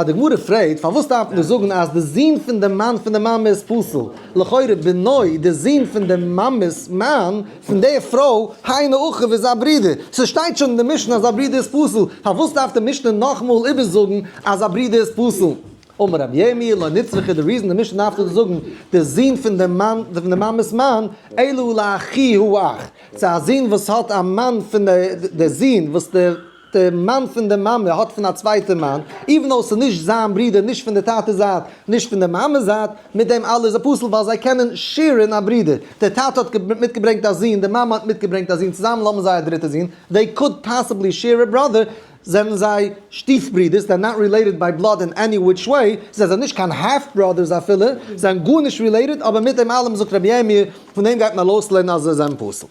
די גמרא פרעגט, פארוואס דארף מען זאגן אז די זון פון די מאן פון די מאמע איז פסול, לכאורה בנו די זון פון די מאמע'ס מאן פון די פרוי, היינו הך איז זיין ברודער, ס'שטייט שוין אין די משנה אז א ברודער איז פסול, פארוואס דארף די משנה נאכאמאל איבערזאגן אז א ברודער איז פסול? אמר רבי ירמי' לא נצרכי די ריזען די משנה דארף דא זאגן די זון פון די מאן פון די מאמעס מאן אלא לאחי הוא אח צו א זון וואס האט א מאן פון די די זון וואס די די מאן פון די מאמע האט פון א צווייטע מאן איווען דאו ס'איז נישט זיין ברודער נישט פון די טאטע זייט נישט פון די מאמע זייט מיט דעם אלע איז א פסול ווייל זיי קענען שעירען א ברודער די טאטע האט מיטגעברענגט א זון די מאמע האט מיטגעברענגט א זון צוזאמען האבן זיי א דריטע זון they could possibly share a brother זענען זיי שטיף ברודערס, זיי זענען נאט רילעיטעד ביי בלאד אין עני וויטש וועי, זיי זענען נישט קיין האלף בראדערס אפילו, זיי זענען גארנישט רילעיטעד, אבער מיט דעם אלעם זאגט רבי ירמי' פון דעם גייט מען ארויסלערנען אז זיי זענען פסול.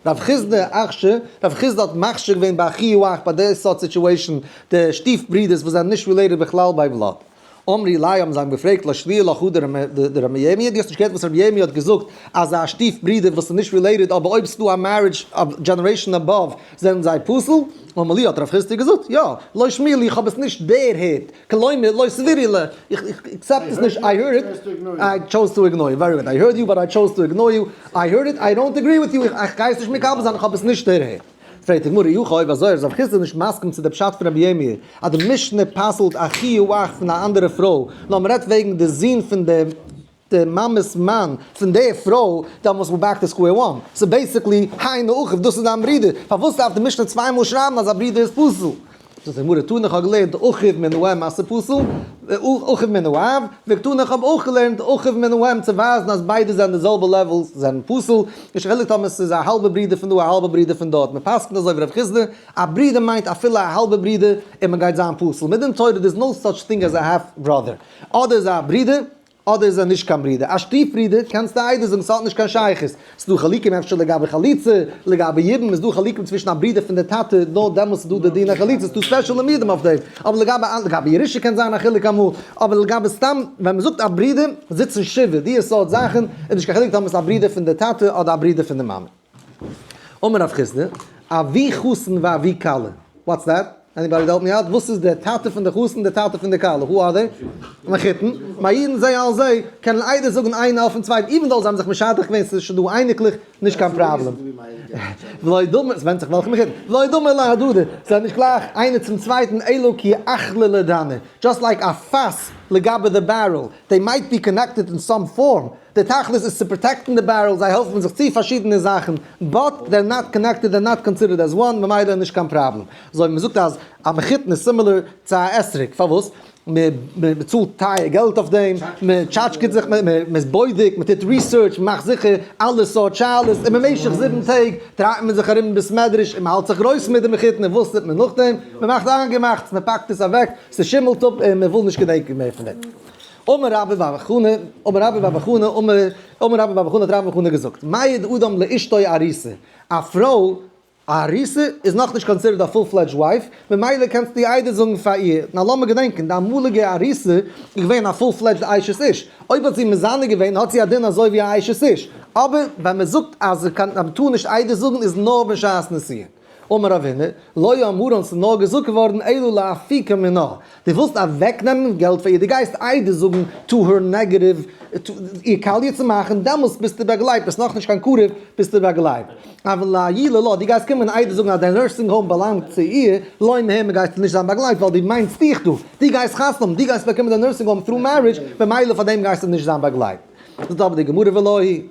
רב חיסדא אכש ר, רב חיסדא האט מכשיר געווען ביי אחיו אח ביי די סארט סיטואשען די שטיף ברודערס וואס זענען נישט רילעיטעד בכלל ביי בלאד. אמרי ליה האבן זיי אים געפרעגט לא שלי' לך הוא דר' ירמי' דו האסט נישט געהערט וואס ר' ירמי' האט געזאגט אז א שטיף ברודער וואס איז נישט רילעיטעד אבער אויב ס'דא א מערידזש אוו דזשענערעישאן אבאוו זענען זיי פסול? אמר ליה האט ר' חיסדא געזאגט יא לא שמי' לי איך האב עס נישט דערהערט כלומר לא סבירי לי איך אקסעפט עס נישט איי הערד איט איי טשאוז טו איגנאר יו ווערי גוד איי הערד יו באט איי טשאוז טו איגנאר יו איי הערד איט איי דאנט עגרי וויט יו איך גיי עס נישט מקבל זיין איך האב עס נישט דערהערט. פרעגט די גמרא איך אויב אזוי איז רב חיסדא נישט מסכים צו די פשט פון רביה מאיר אז די משנה פסל'ט א חיוב אח פון א אנדערע פרוי נאר מען רעדט וועגן די זון פון די די מאמעס מאן פון די פרוי דעמאלס וואו באקט עס סקווער וואן ס'איז בעיסיקלי היינו הך דאס איז דיין ברודער פארוואס דארף די משנה צוויי מאל שרייבן אז א ברודער איז פסול? דאס איז מראה תנא, איך האב געלערנט די אחיו מנועם מעשה פסול, אחיו מנועם, וועגן תנא איך האב אויך געלערנט די אחיו מנועם צו ווייזן אז ביידע זענען די זעלבע לעוועל זענען פסול, נישט חילוק טאמער עס איז א האלבע ברודער פון דא א האלבע ברודער פון דארט, מען פסק'נט אזוי ווי רב חיסדא, א ברודער מיינט אפילו א האלבע ברודער און מען גייט זיין פסול, מדין תורה דער איז נאו סאטש טינג עז א האלף בראדער, אדער איז ער א ברודער אדער איז ער נישט קיין ברודער, א שטיף ברודער קענסטו איידער זאגן ס'האט נישט קיין שייכות, ס'דא חלקים אפשר לגבי חליצה, לגבי ידען איז דא חלקים צווישן א ברודער פון די טאטע נאר דעמאלטס איז דא די דין החליצה ס'דא ספעשעלע מיעדים אויף דעם, אבער לגבי אנ לגבי ירושה קען זיין א חילוק אמאל, אבער לגבי סתם ווען מ'זאגט א ברודער זיצן שבעה דיע סארט זאכן איז נישט קיין חילוק טאמער ס'איז א ברודער פון די טאטע אדער א ברודער פון די מאמע. אמר רב חיסדא, אבי חתן ואבי כלה, וואטס דעט? עניבאדי העלפ מי אוט? וואס איז דער טאטע פון די חתן און די טאטע פון די כלה? הו אר זיי? מחותן, מאירן זיי אלס זיי קענען איידער זאגן איינער אויפן צווייטן איווען דאו זיי האבן זיך משדך געווען ס'איז שוין דא אייניקלעך נישט קיין פראבלעם. ולא דומה, ס'ווענדט זיך וועלכע מחותן, ולא דומה להדדי, זיי זענען נישט גלייך איינער צום צווייטן אלא כי אכלה לדני, דזשאסט לייק א פאס לגבי די בערעל, דעי מייט בי קאנעקטעד אין סאם פארם, די תכלית איז צו פראטעקטן די בערעל, זיי העלפן זיך צו פארשידענע זאכן, באט דעי אר נאט קאנעקטעד און נאט קאנסידערד עז וואן, ממילא נישט קיין פראבלעם. אזוי ווי מ'זאגט אז א מחותן איז סימילער צו א אתרוג, פארוואס? מ'צאלט טייער געלט אויף דעם, מ'טשאטשקעט זיך, מ'איז בודק, מ'טוט ריסוירטש, מ'מאכט זיכער אלע סארט שאלות, און במשך זיבן טעג דרייט מען זיך ארום אין בית מדרש און מ'האלט זיך גרויס מיט די מחותן, און וואס טוט מען נאכדעם? מ'מאכט איינגעמאכטס, מ'פאקט עס אוועק, ס'שימעלט אפ און מ'וויל נישט געדענקען מער פון דעם. אמר רבי בר בר חנה, אמר רבי בר בר חנה, אמר, אמר רבי בר בר חנה, האט רבי בר חנה געזאגט, מה יד אדם לאשתו עריסה, א פרוי א עריסה איז נאך נישט קאנסידערט א פול פלעדזש ווייף, ממילא קענסטו איר איידער זאגן פאר איר, נאר לאמיר געדענקען, די אמאליגע עריסה איז געווען א פול פלעדזשד אשת איש, אויב האט זי מזנה געווען האט זי א דין אזוי ווי א אשת איש, אבער ווען מען זאגט אז מען טאר נישט איידער זאגן איז נאר בשעת נסיעה. אמר אבינו, לא יאמרו אונז איז נאר געזאגט געווארן אלא להפיקה מנה, די ווילסט אוועק נעמען געלט פאר איר, די גייסט איידער זאגן טו הער נעגעטיוו איר קאליע צו מאכן, דעמאלסט ביסטו באגלייבט, ביסט נאך נישט קיין קרוב ביסטו באגלייבט, אבל להי' לא, די גייסט קומען איידער זאגן אז די נורסינג האום באלאנגט צו איר, לא מה' מען גייסטו נישט זיין באגלייבט ווייל די מיינסט דיך דא, די גייסט חתונה האבן, די גייסט באקומען די נורסינג האום through marriage, במילא פאר דעם גייסטו נישט זיין באגלייבט. זאגט אבער די גמרא ולהי'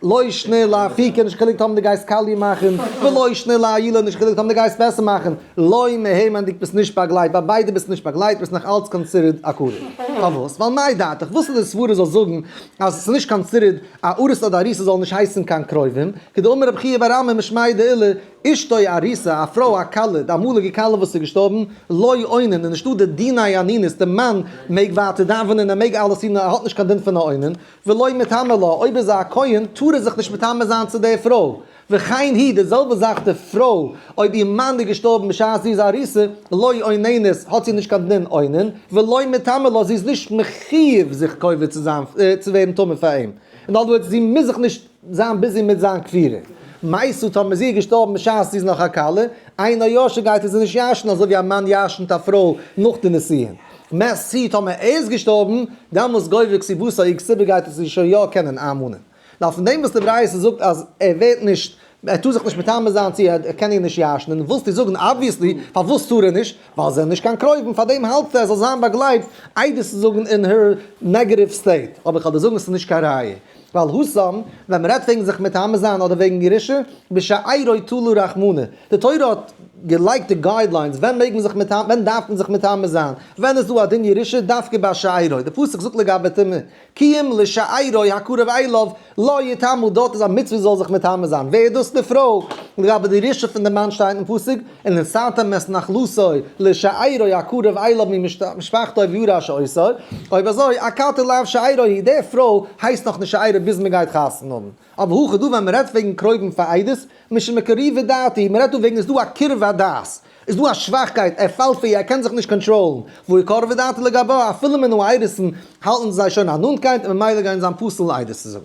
לא ישנה לה פיקע נישט חילוק טאמער די גייסט קאליע מאכן, ולא ישנה לה עילה נישט חילוק טאמער די גייסט וועסער מאכן, לוי מהימן'דיג ביסט נישט באגלייט, ביי ביידע ביסט נישט באגלייט ביסט נאך אלץ קאנסידערד א קאליע. פארוואס? ווייל מאי דעתך? וואס איז די סברא זאל זאגן אז עס איז נישט קאנסידערד א ארוסה אדער אריסה זאלן נישט הייסן קיין קרובים, כדאמר רבי חייא ביי רמ ע משמעי דעילה אשתו אריסה א פרוי א כלה די אמאליגע כלה וואס איז געשטארבן לוי אונן איז נישטא די דיני אנינוס די מאן מעג ווייטער דאווענען ער מעג אלעס טון ער האט נישט קיין דין פון א אונן, ולא מטמא לה, אויב איז זי א כהן טאר ער זיך נישט מטמא זיין צו דער פרוי, וכן היא, די זעלבע זאך די פרוי, אויב איר מאן איז געשטארבן בשעת זי איז א אריסה, לא עוננת, האט זי נישט קיין דין עונן, ולא מטמא לה, זי איז נישט מחיוב זיך קובע צו זיין, צו ווערן טמא פאר אים, אין אדער ווארדס, זי מוז זיך נישט. זיין ביזי מיט זיין כפירה. מעשה טאמער זי איז געשטארבן בשעת זי איז נאך א כלה, איין נאר יאשע גייט ער זי נישט יאשן אזוי ווי א מאן יאשנט א פרוי נאך די נסיון. מעשה טאמער ער איז געשטארבן, דאמאלס גובר כסיבותא איג סיבה גייט ער זי שוין יא קענען ארמאנען. נאר פון דעם וואס די ברייתא זאגט אז ער ווערט נישט, ער טאר זיך נישט מטמא זיין צו ער קען איר נישט יאשנען, ווילסטו זאגן אבוויעסלי פארוואס טאר ער נישט, ווייל זיי זענען נישט קיין קרובים, פאר דעם האלטסטו ער זאל זיין באגלייבט עדות צו זאגן אין הער נעגעטיוו סטעיט, אבער כ'וועל דיר זאגן ס'איז נישט קיין ראיה. ווייל הושם, ווען מ'רעדט וועגן זיך מטמא זיין אדער וועגן ירושה, בשעירוי תלו רחמנא. די תורה האט געלייגט די גיידליינס ווען מעג מען זיך מטמא, ווען דארף מען זיך מטמא זיין, ווען איז דא א דין ירושה דווקא ביי שעירוי. די פסוק זאגט לגבי טומאה, כי אם לשעירוי הקרוב אליו לא יטמא, דארט איז א מצוה זאל זיך מטמא זיין. ווער איז דאס? די פרוי. לגבי די ירושה פון די מאן שטייט אין פסוק. און נשאתם את נחלתו לשאירו הקרוב אליו ממשפחתו וירש אותו, אויב אזוי הכתר לאו שאירו היא, די פרוי הייסט נאך נישט שאירו ביז מען גייט חתונה האבן, אבער הכא דא ווען מען רעדט וועגן קרובים פאר איידעס, משום מה קריבה דאתי, מען רעדט דא וועגן איז דא א קרבת דת, איז דא א שוואכקייט, ער פאלט פאר איר, ער קען זיך נישט קאנטראלן, והוא קרבה דאתי לגביו, אפילו מען האט איידעסן האלטן זיי שוין א נאנטקייט און ממילא גייען זיין פסול איידעס צו זאגן.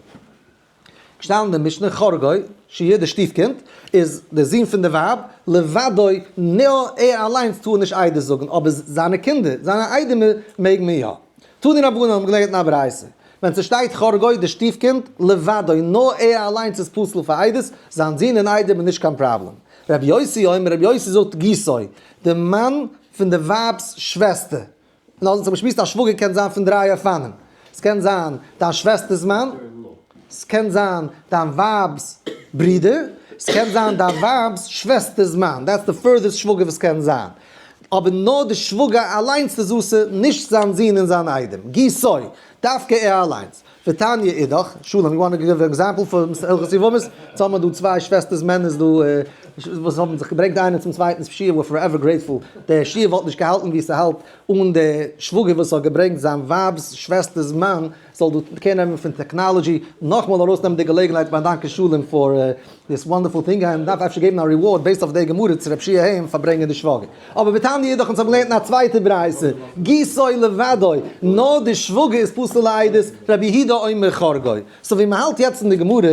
געשטאנען אין די משנה חרגוי שיהיה די שטיף קינד איז די זון פון די ווייב לבדו נאר ער אליינס טאר נישט עדות זאגן אבער זיינע קינדער זיינע איידעמער מעג מען יא טאר די רבנן האבן געלערנט אין א ברייתא ווען ס'שטייט חרגוי די שטיף קינד לבדו נאר ער אליינס איז פסול פאר עדות זיין זון און איידעם איז נישט קיין פראבלעם רבי יוסי אומר רבי יוסי זאגט גיסו די מאן פון די ווייב'ס שוועסטער נאר זיך באשמועסט א שוואגער קען זיין פון דריי אופנים, ס'קען זיין דיין שוועסטער'ס מאן, ס'קען זיין דיין ווייב'ס ברודער, ס'קען זיין דיין ווייב'ס שוועסטער'ס מאן, דעטס די פורדערסט שוואגער וואס קען זיין, אבער נאר די שוואגער אליינס איז אסור, נישט זיין זון און זיין איידעם, ג-ט, דווקא ער אליינס. ותניא אידך, שלום, יו וואנט טו גיוו אן עקזעמפל פון הלכות יבמות? יעצט האבן מיר דא צוויי שוועסטערס מענערס דא וואס האבן זיך געברענגט איינער צום צווייטנס שיעור, וויר פארעווער גרעיטפול, דער שיעור וואלט נישט געהאלטן ווי ס'האלט אן דער שוואגער וואס האט געברענגט זיין ווייב'ס שוועסטער'ס מאן זאל דא קער נעמען פון טעקנאלעדזשי, נאכמאל ארויסנעמען די געלעגנהייט באדאנקען שלום פאר דיס וואנדערפול טינג אז מ'דארף אפשר געבן א ריווארד בעיסד אויף די גמרא צו רב שי' העם פארברענגען די שוואגער. אבער בתניא אידך אונז האבן געלערנט אין א צווייטע ברייתא גיסוי לוודאי נאר די שוואגער איז פסול לעדות רבי יהודה אומר חרגוי. סאו ווי מ'האלט יעצט אין די גמרא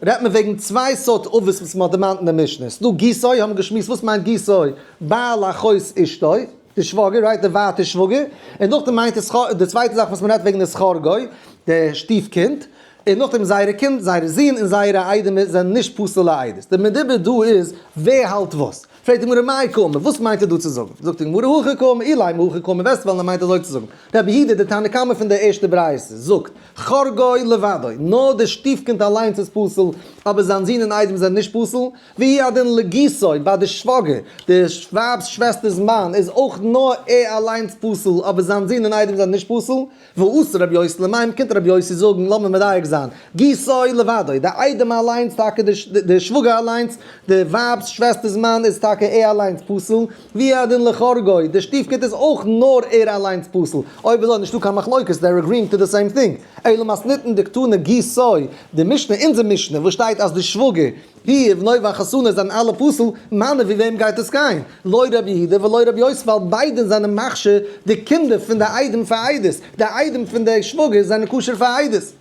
רעדט מען וועגן צוויי סארט אבות וואס מ'האט דערמאנט אין די משנה. ס'דא גיסוי האבן געשמועסט וואס מיינט גיסוי בעל אחות אשתו די שוואגער רייט די ווייטע שוואגער און נאכדעם מיינט עס די צווייטע זאך וואס מ'רעדט וועגן איז חרגוי די שטיף קינד און נאכדעם זייערע קינד, זייערע זין, און זייערע איידעמער זענען נישט פסול'ע עדות. די מדובר דא איז ווער האלט וואס. פרעגט די גמרא מאי קאומא, וואס מיינט ער דא צו זאגן? זאגט די גמרא הכי קאומא אילי מהכי קאומא, וועסט וועלן ער מיינט אזוי צו זאגן. רבי יהודה דער תנא קמא פון די ערשטע ברייתא זאגט, חור גוי לבדו, נאר די שטיפקינד אליינס איז פסול, אבער זיין זין און איידעם זענען נישט פסול, והיא הדין לגיסו, ביי די שוואגער, די ווייב'ס שוועסטער'ס מאן, איז אויך נאר ער אליינס פסול, אבער זיין זין און איידעם זענען נישט פסול. ועשה רבי יוסי למים קומט רבי יוסי זאגן לאמיר מדייק זיין, גיסו לבדו, די איידעם אליינס טאקע די שוואגער אליינס די ווייב'ס שוועסטער'ס מאן איז טאקע ער אליינס פסול, והיא הדין לכאורה גוי, די שטיף קינד איז אויך נאר ער אליינס פסול, אויב איז דא נישטא קיין מחלוקת דער עגריאינג טו די סעים טינג, אלא מאס ניתן דקתנא גיסו, די משנה אונזער משנה וואס שטייט אז די שוואגער ווי איז נוי וויין חתונה זיין אלע פסול מיינע ווי וועם גייט עס גיין לא ר' יהודה ולא ר' יוסף ווייל ביידע זיינען מכשיר די קינדער פון די איידעם פאר איידעס די איידעם פון די שוואגער זיינען כשר פאר איידעס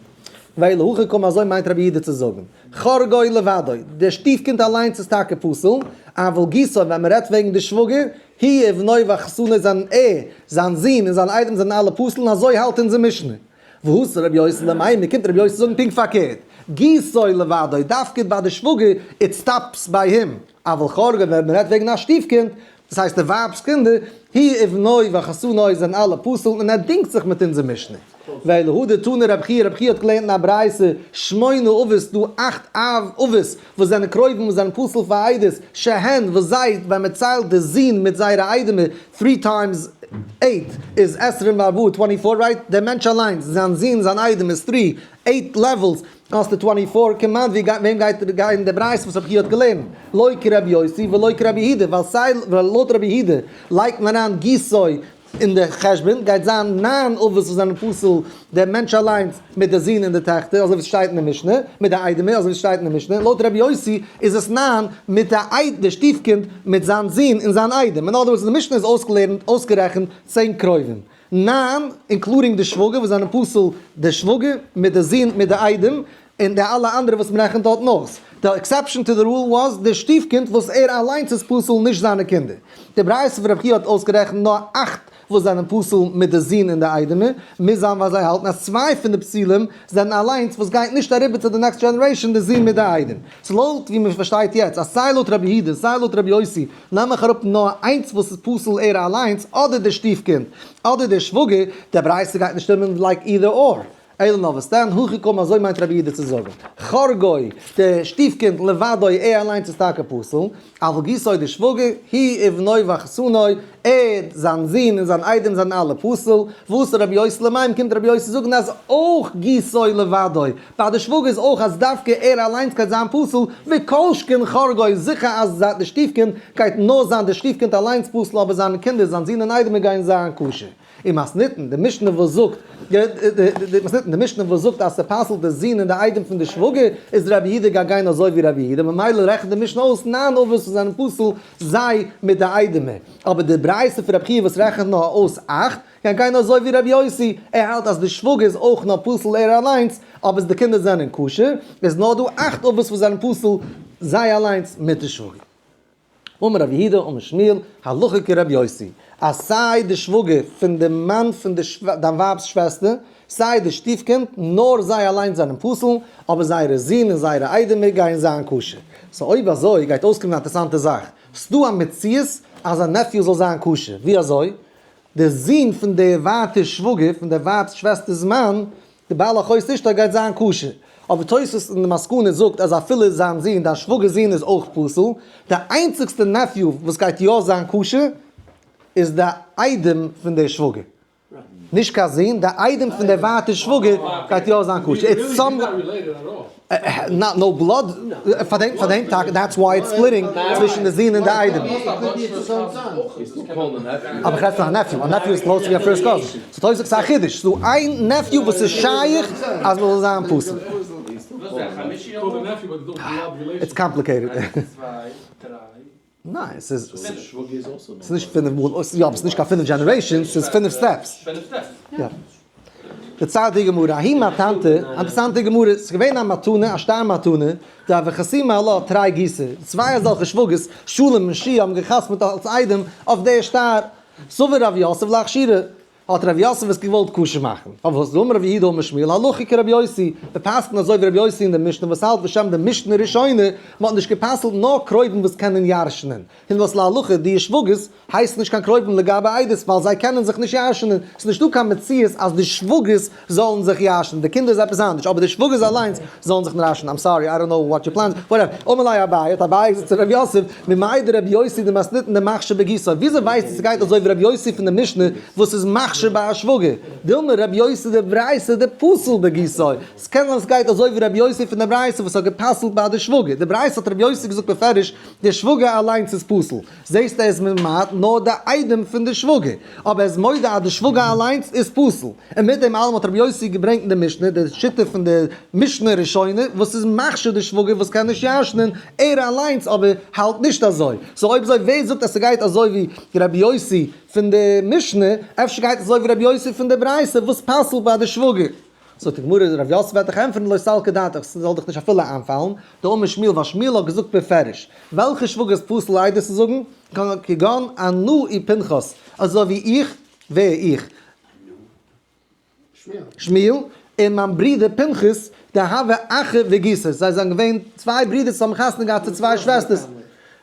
ואילו הכה קמא אזוי מיינט ר' יהודה צו זאגען חר גוי לבדו די שטיף קינד אליינס איז טאקע פסול אבל גיסו ווען מען רעדט וועגען די שוואגער ווי איז נוי וויין חתונה זיין ער זיין זון און זיין איידעם זיינען אלע פסול און אזוי האלט אונזער משנה. והוא סר רבי יוסל'ע מיין מען קומט רבי יוסל זאגן פונקט פארקערט גיסוי לבדו דווקא ביי די שוואגער איט סטאפס ביי הים אבל כרגע ווען מען רעדט וועגן א שטיף קינד דאס הייסט די ווייבס קינדער היא ובנוהי וחתנוהי זענען אלע פסול און ער דינגט זיך מיט אונזער משנה ואלהא דתנא רבי חייא רבי חייא האט געלערנט אין א ברייתא שמונה אבות דא אכט אבות וואס זענען קרובים וואס זענען פסול פאר עדות, ש ה, וואס זיי, ווען מען ציילט די זון מיט זייערע איידעמער, three times eight איז עשרים וארבעה, twenty four, רייט? דער מענטש אליינס, זיין זון, זיין איידעם איז three, eight לעוועלס, האסטו twenty four, כמעט ווי וועם גייט ער גיין די ברייתא וואס רבי חייא האט געלערנט, לא כרבי יוסי ולא כרבי יהודה, ווייל סיי לויט רבי יהודה לייגט מען אריין גיסוי און דער חשבון גייט זיין ניין אבות וואס זענען פסול, דער מענטש אליינס מיט די זון און די טעכטער, אזוי ווי עס שטייט אין די משנה, מיט די איידעמער, אזוי ווי עס שטייט אין די משנה, לויט רבי יוסי איז עס ניין מיט די איידעם, די שטיף קינד מיט זיין זון און זיין איידעם, אין אדער ווארדס די משנה איז אויסגעלערנט, אויסגערעכנט, צען קרובים, ניין, אינקלודינג די שוואגער וואס זענען פסול, די שוואגער מיט די זון מיט די איידעם, און די אלע אנדערע וואס מען רעכנט האט נאס. די עקסעפשאן טו די רול וואס די שטיף-קינד וואס ער אליינס איז פסול נישט זיינע קינדער. די ברייתא פון רב חייא האט אויסגערעכנט נאר אכט וואס זענען פסול מיט די זון און די איידעמער, מוז זיין ווייל זיי האלטן אז צוויי פון די פסולים זענען אליינס וואס גייט נישט אריבער צו די נעקסט דזשענערעישאן די זון מיט די איידעם. ס'איז לויט ווי מען פארשטייט יעצט אז סיי לויט רבי יהודה און סיי לויט רבי יוסי נעם איך אראפ נאר איינס וואס איז פסול ער אליינס אדער די שטיף-קינד אדער דער שוואגער, די ברייתא גייט נישט שטימען לייק אידער אור. אילן אבות דן, הכי קמא אזוי מיינט רבי איד צו זאגן. חרגוי, די שטיף קינד, לבדו, ער אליינס איז טאקע פסול, אבל גיסו די שוואגער, היא ובנו וחתנו, ער, זיין זון און זיין איידעם זענען אלע פסול, ואסר רבי יוסי למים, קומט רבי יוסי זאגן אז אויך גיסו לבדו, ביי די שוואגער איז אויך אז דווקא ער אליינס גייט זיין פסול, וכל שכן חרגוי, זיכער אז די שטיף קינד גייט נאר זיין די שטיף קינד אליינס פסול אבער זיינע קינדער, זיין זון און איידעמער גייען זיין כשר. און מ'האסט ניטן די משנה וואס זאגט, מ'האסט ניטן די משנה וואס זאגט אז ס'פסל'ט די זון און די איידעם פון די שוואגער, איז ר' יהודה גייט גיין אזוי ווי ר' יהודה, ממילא רעכנט די משנה אויס נײַן אבות וואס זענען פסול זיי מיט די איידעמער. אבער די ברייתא פון רב חייא וואס רעכנט נאר אויס אַכט, גייט גיין אזוי ווי ר' יוסי, ער האלט אז די שוואגער איז אויך נאר פסול ער אליינס, אבער אז די קינדער זענען כשר, איז נאר דא אַכט אבות וואס זענען פסול זיי אליינס מיט די שוואגער. אמר רבי יהודה אמר שמואל הלכה כרבי יוסי, אז סיי די שוואגער פון די מאן פון דיין ווייב'ס שוועסטער, סיי די שטיף קינד, נאר זיי אליינס זענען פסול, אבער זייערע זון און זייערע איידעמער גייען זיין כשר. סאו אויב אזוי גייט אויסקומען א אינטערעסאנטע זאך, ס'דא א מציאות אז א נעפיו זאל זיין כשר, ווי אזוי? די זון פון די ווייטע שוואגער פון די ווייב'ס שוועסטער'ס מאן די בעל החוש נישט אויב גייט זיין כשר. אבער תוספות אין די מסקנא זאגט אז אפילו זיין זון דיין שוואגערס זון איז אויך פסול. די איינציגסטע נעפיו וואס גייט יא זיין כשר איז די איידעם פון די שוואגער. נישט קיין זון, די איידעם פון די ווייטע שוואגער גייט יא זיין כשר. נאט נאו בלאד, פאר דעם פאר דעם טאקע דעטס וויי איטס ספליטינג צווישן די זון און די איידעם. אבער איך רעד פון א נעפיו, א נעפיו איז קלאוז צו א פירסט קאזין, ס'איז טויס זאגסט א חידוש, ס'איז דא איין נעפיו וואס איז שייך אז מען זאל זיין פסול. איטס קאמפליקעיטעד. ניין, ס'איז נישט פינף מאל, יא אבער ס'איז נישט קיין פינף דזשענערעישאנס, ס'איז פינף סטעפס. יא. די צייט די גמרא, אהין מיין טאנטע, אינטערסאנטע גמרא, ס'איז געווען א מתנה, א שטר מתנה, די אב החסימה ע ל האט תרי ג, צוויי אזעלכע שוואגערס, שלום און שי, האבן גע'חתמ'ט אלס איידעם אויף די שטר, סבור רב יוסף להכשירה, האט ר' יוסף עס געוואלט קשה מאכן, פארוואס דאמר ר' יהודה ומשמעאל הלכה כר' יוסי, מיר פסק'ן אזוי ווי ר' יוסי אין די משנה וואס האלט בשם די משנה ראשונה, מען האט נישט גע'פסל'ט נאר קרובים וואס קענען ירש'נען, היות וואס להלכה די ישווגות הייסן נישט קיין קרובים לגבי איידעס ווייל זיי קענען זיך נישט ירש'נען, ס'איז נישטא קיין מציאות אז די שוואגערס זאלן זיך יאשן, די קינדער איז עפעס אנדערש, אבער די שוואגערס אליינס זאלן זיך נראשן, איים סארי, איי דאנט נאו וואט יור פלענס, וואטעווער, אמר ליה אביי, האט אביי געזאגט צו ר' יוסף, ממאי דרבי יוסי דמסניתן דמחשב בגיסו, וויאזוי ווייסטו ס'גייט אזוי ווי ר' יוסי פון די משנה וואס איז מחשב ביי א שוואגער, דילמא רבי יוסי די ברייסע די פסול בגיסו, ס'קען זיין ס'גייט אזוי ווי ר' יוסי פון די ברייסע וואס האט גע'פסל'ט ביי די שוואגער, די ברייסע האט ר' יוסי געזאגט בפירוש, די שוואגער אליינס איז פסול. זעהסט ער איז ממעט נאר די איידעם פון די שוואגער, אבער ער איז מודה אז די שוואגער אליינס איז פסול, און מיט דעם אלעם האט רבי יוסי געברענגט אין די משנה די שיטה פון די משנה ראשונה וואס איז מכשיר די שוואגער וואס קען נישט ישנ'ן, ער אליינס אבער האלט נישט אזוי, סאו אויב אזוי ווער זאגט אז ס'גייט אזוי ווי רבי יוסי פון די משנה, אפשר גייט עס אזוי ווי רבי יוסי פון די ברייתא וואס פסל'ט ביי די שוואגער. זאגט די גמרא ר' יוסף וועט דיך ענטפערן לא סלקא דעתך, ס'זאל דיך נישט אפילו איינפאלן, די אמר שמואל ווייל שמואל האט געזאגט בפירוש וועלכע שוואגער איז פסול עדות צו זאגן, כגון אנא אי פנחס, אזוי ווי איך, ווער איך? שמואל, און מיין ברודער פנחס, די הוה אחי וגיסו, זיי זענען געווען צוויי ברודערס וואס האבן חתונה געהאט צו צוויי שוועסטערס,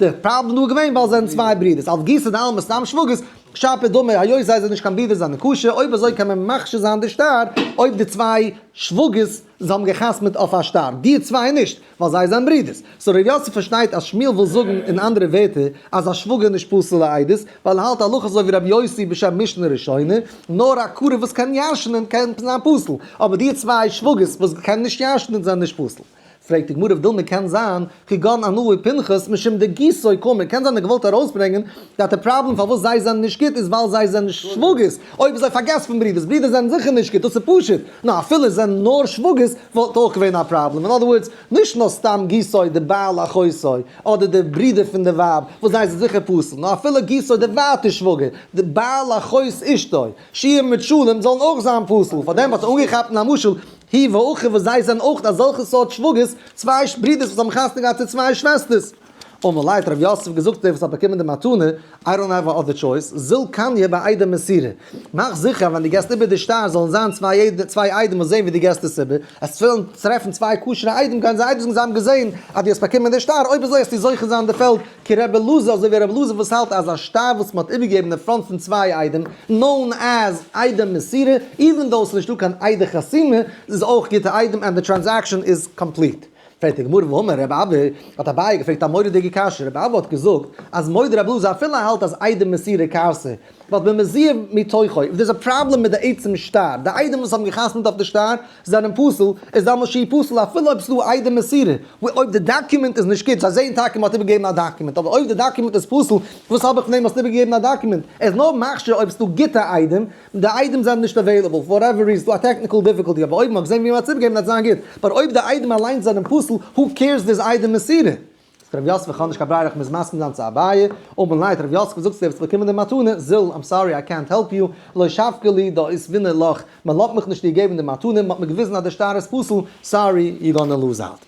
דער פראבלעם דא איז געווען ווייל זיי זענען צוויי ברידערס אלס גיסא דעלמא סתם שוואגערס שפע דמי היות זיי זענען נישט קיין ברידערס זיין נקשה אויב אזוי קען מען מכשיל זיין די שטר אויב די צוויי שוואגערס זיי האבן געחתמעט אויף א שטר די צוויי נישט ווייל זיי זיין ברידערס סאו ר' יוסף פארשטייט אז שמואל וויל זאגן אין אנדערע ווערטער אז א שוואגער איז נישט פסול לעדות ווייל ער האלט הלכות אזוי ווי ר' יוסי בשם משנה ראשונה נאר א קרוב וואס קען ישנ'ן קען זיין פסול אבער די צוויי שוואגערס וואס קענען נישט ישנ'ן זענען נישט פסול. פרעגט די גמרא ווידלמא קען זיין כגון אנוהו פנחס משום די גיסוי קאומי קען זיין ער האט געוואלט ארויסברענגען דאט די פראבלעם פארוואס זיי זענען נישט גוט איז ווייל זיי זענען שוואגערס אויב זיי פארגעסט פון ברידערס ברידערס זענען זיכער נישט גוט דאס איז פשוט נו אפילו זענען נאר שוואגערס וואלט אויך געווען א פראבלעם אין אדער ווארדס נישט נאר סתם גיסוי די בעל אחותו אדער די ברידער פון די ווייב וואס זיי זענען זיכער פסול נאר אפילו גיסוי די ווייטע שוואגער די בעל אחות אשתו שיהיה מיט שלום זאלן אויך זיין פסול פארדעם האט ער אנגעכאפט אין א משל הי ו אויך וואס זיי זענען אויך אזעלכע סארט שוואגערס, צוויי ברידערס וואס האבן חתונה געהאט צו צוויי שוועסטערס. אמאל ליידט ר' יוסף געזאגט דער וואס האט באקומען די מתנה, איי דאנט העוו א אדער טשויס, זיל קניה ביי איידעם מסירה. מאך זיכער אז ווען דו געסט איבער די שטר זאלן זיין צוויי איידעם וואס זעהן ווי דו געסט עס איבער, עס פעלן צו טרעפן צוויי כשר'ע איידעם גייען זיי אייביג זאגן זיי האבן געזעהן אז דו האסט באקומען די שטר, אויב אזוי העסטו זוכה זיין די פעלד כ ר אלעזר, אזוי ווי ר' אלעזר וואס האלט אז א שטר וואס מען האט איבערגעגעבן אין פראנט פון צוויי איידעם, נאון עז איידעם מסירה, איווען דאו עס איז נישטא קיין איידער חתימה, איז אויך גוטע איידעם ענד די טרענזעקשאן איז קאמפליט. פרעגט די גמרא ואמר ר' אבא, האט אביי געפרעגט א מורא'דיגע קשיא, ר' אבא האט געזאגט אז מודה ר' אלעזר אפילו ער האלט אז איידעם מסירה כעסה, ווייל במזיד מתוכו, אויב דאס איז א פראבלעם מיט די עצם שטר, די איידעם וואס האבן גע'חתמ'ט אויף די שטר זענען פסול, איז דאן משי פסול אפילו אויב ס'איז דא א איידעם מסירה, ווי אויב די דאקומענט איז נישט גוט, זיי זעען טאקע מ'האט איבערגעגעבן א דאקומענט, אבער אויב די דאקומענט איז פסול, וואס האב איך פון דעם האסט איבערגעגעבן א דאקומענט? ער איז נאר מכשיר אויב ס'איז דא גוטע איידעם, די איידעם זענען נישט עוועילעבל, פאר וואטעווער ריזען, ס'איז דא א טעקניקעל דיפיקאלטי, אבער אויב מ'האט געזען ווי מ'האט עס איבערגעגעבן וועט זיין גוט, באט אויב די איידעם אליינס זענען פסול, הו קעירס די איז איידעם מסירה? זאגט רבי יוסף איך האב נישט קיין ברירה איך מוז מסכים זיין צו אביי, אמן ליידט רבי יוסף וואס זאגסטו וועסט באקומען די מתנה, זל איים סארי איי קענט העלפ יו, לא שפכה לי דא איז ווינער לאך, מען לאט מיך נישט דיר געבן די מתנה, מען האט מיר געוויזן אז די שטר איז פסול, סארי יו גאנא לוז אוט.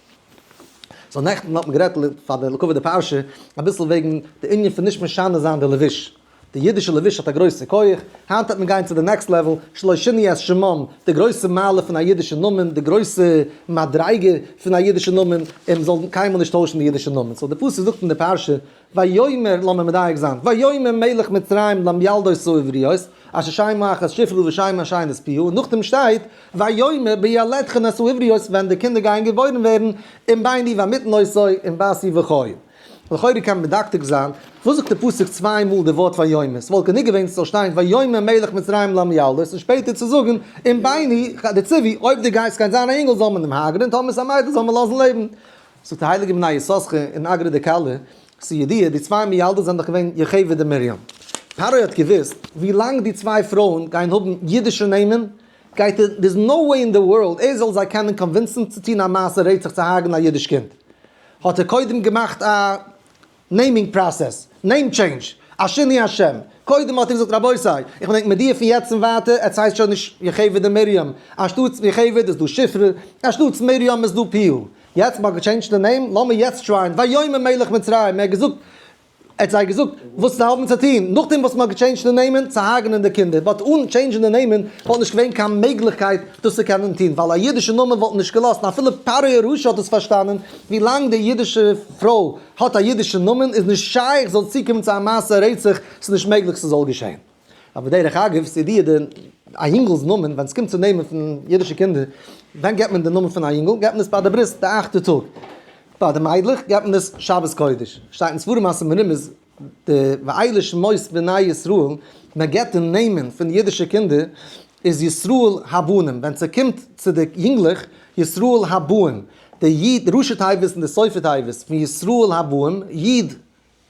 סאו נעכטן האט מען גערעדט פאר די לקח די פרשה אביסל וועגן די ענין פון נישט משנה זיין די לבוש. די אידישע לבוש האט א גרויסע כח, היינט העט מען גיין צו די נעקסט לעוועל, שלא שיני את שמם, די גרויסע מעלה פון א אידישע נאמען, די גרויסע מדריגה פון א אידישע נאמען, און מען זאל קיינמאל נישט טוישן די אידישע נאמען, סאו די פסוק זאגט אין די פרשה, ויאמר, לאמיר מדייק זיין, ויאמר מלך מצרים למילדות העבריות, אשר שיימה אחת שפרה ושיימה השנייה נספיה, און נאכדעם שטייט, ויאמר בילדכן את העבריות, ווען די קינדער גייען געבוירן ווערן, און ביני ואמיתן עשוי, און בעשי וכו'. לכאורה קען מען מדקדק זיין, וואס זאגט די פסוק צוויי מאל די ווארט ויאמר? ס'וואלט גענוג געווען ס'זאל שטיין ויאמר מלך מצרים לעם ילדות און שפעטער צו זאגן אם בני די ציווי אויב דו גייסט קיין זיין א אינגל זאל מען אים הרג'נען טאמער ס'איז א מיידל זאל מען לאזן לעבן. זאגט די הייליגע בני יששכר אין אגרא דקלה, ס'ידיעה די צוויי מילדות זענען דאך געווען יוכבד און מרים. פרעה האט געוואוסט ווי לאנג די צוויי פרויען גייען האבן אידישע נעמען גייט ער דער'ס נאו וועי אין די ווארלד ער זאל זיי קענען קאנווינסן צו טון א מעשה רצח צו הרג'נען א אידיש קינד. האט ער קודם געמאכט א נעימינג פראסעס, נעים טשעינדזש, א שינוי השם, קודם האט ער געזאגט רבותי איך בין ענק מיט דיר פון יעצט און ווייטער, עטס הייסט שוין נישט יוכבד און מרים, אנשטאטס יוכבד איז דא שפרה, אנשטאטס מרים איז דא פיהו, יעצט מ'האט געטשעינדזשט די נעים, לאמיר יעצט טרייען, ויאמר מלך מצרים, ער האט געזאגט, ער האט זיי געזאגט וואס זיי האבן צו טון, נאכדעם וואס מען האט געטשעינדזשט די נעמען צו הרג'נען די קינדער, באט אן טשעינדזשן די נעמען וואלט נישט געווען קיין מעגליכקייט דאס צו קענען טון, ווייל א אידישע נאמען וואלט נישט געלאזט, אפילו פרעה הרשע האט עס פארשטאנען, ווי לאנג די אידישע פרוי האט א אידישע נאמען איז נישט שייך זאל צוקומען צו א מעשה רצח, ס'איז נישט מעגליך ס'זאל געשען. א בדרך אגב, ס'איז אידיע די א יונגעל'ס נאמען, ווען ס'קומט צו נעמען פון אידישע קינדער, ווען געבט מען די נאמען פון א יונגעל? געבט מען עס ביי די ברית, די אכטע טאג. ביי די מיידלעך געבט מען עס שבת קודש. שטייט אין ספרים אז מרומז די ואלה שמות בני ישראל, מען געבט די נעמען פון אידישע קינדער איז ישראל הבנים, ווען ס'קומט צו די יונגלעך, ישראל הבאים, די איד, די ראשי תיבות און די סופי תיבות פון ישראל הבאים, איד.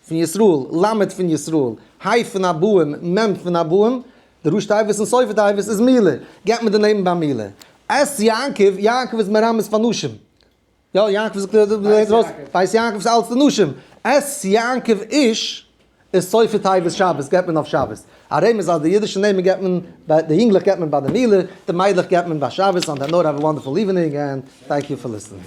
פון ישראל, ל' פון ישראל, ה' פון הבאים, מ' פון הבאים, די ראש תיבות און סוף התיבות איז מילה, געבט מען דערנעבן ביי מילה. ס יעקב, יעקב איז מרמז פאר נשים. יא, יעקב זאגט דאס ווייס יעקב איז אלץ פון נשים. ס יעקב איש איז סוף התיבות שבת, געבט מען אויף שבת. א רמז אז די אידישע נעמען געבט מען, ביי די יונגלעך געבט מען ביי די מילה, די מיידלעך געבט מען ביי שבת, אנד ענאדער האוו א וואנדערפול איווענינג ענד טענק יו פאר ליסטענינג.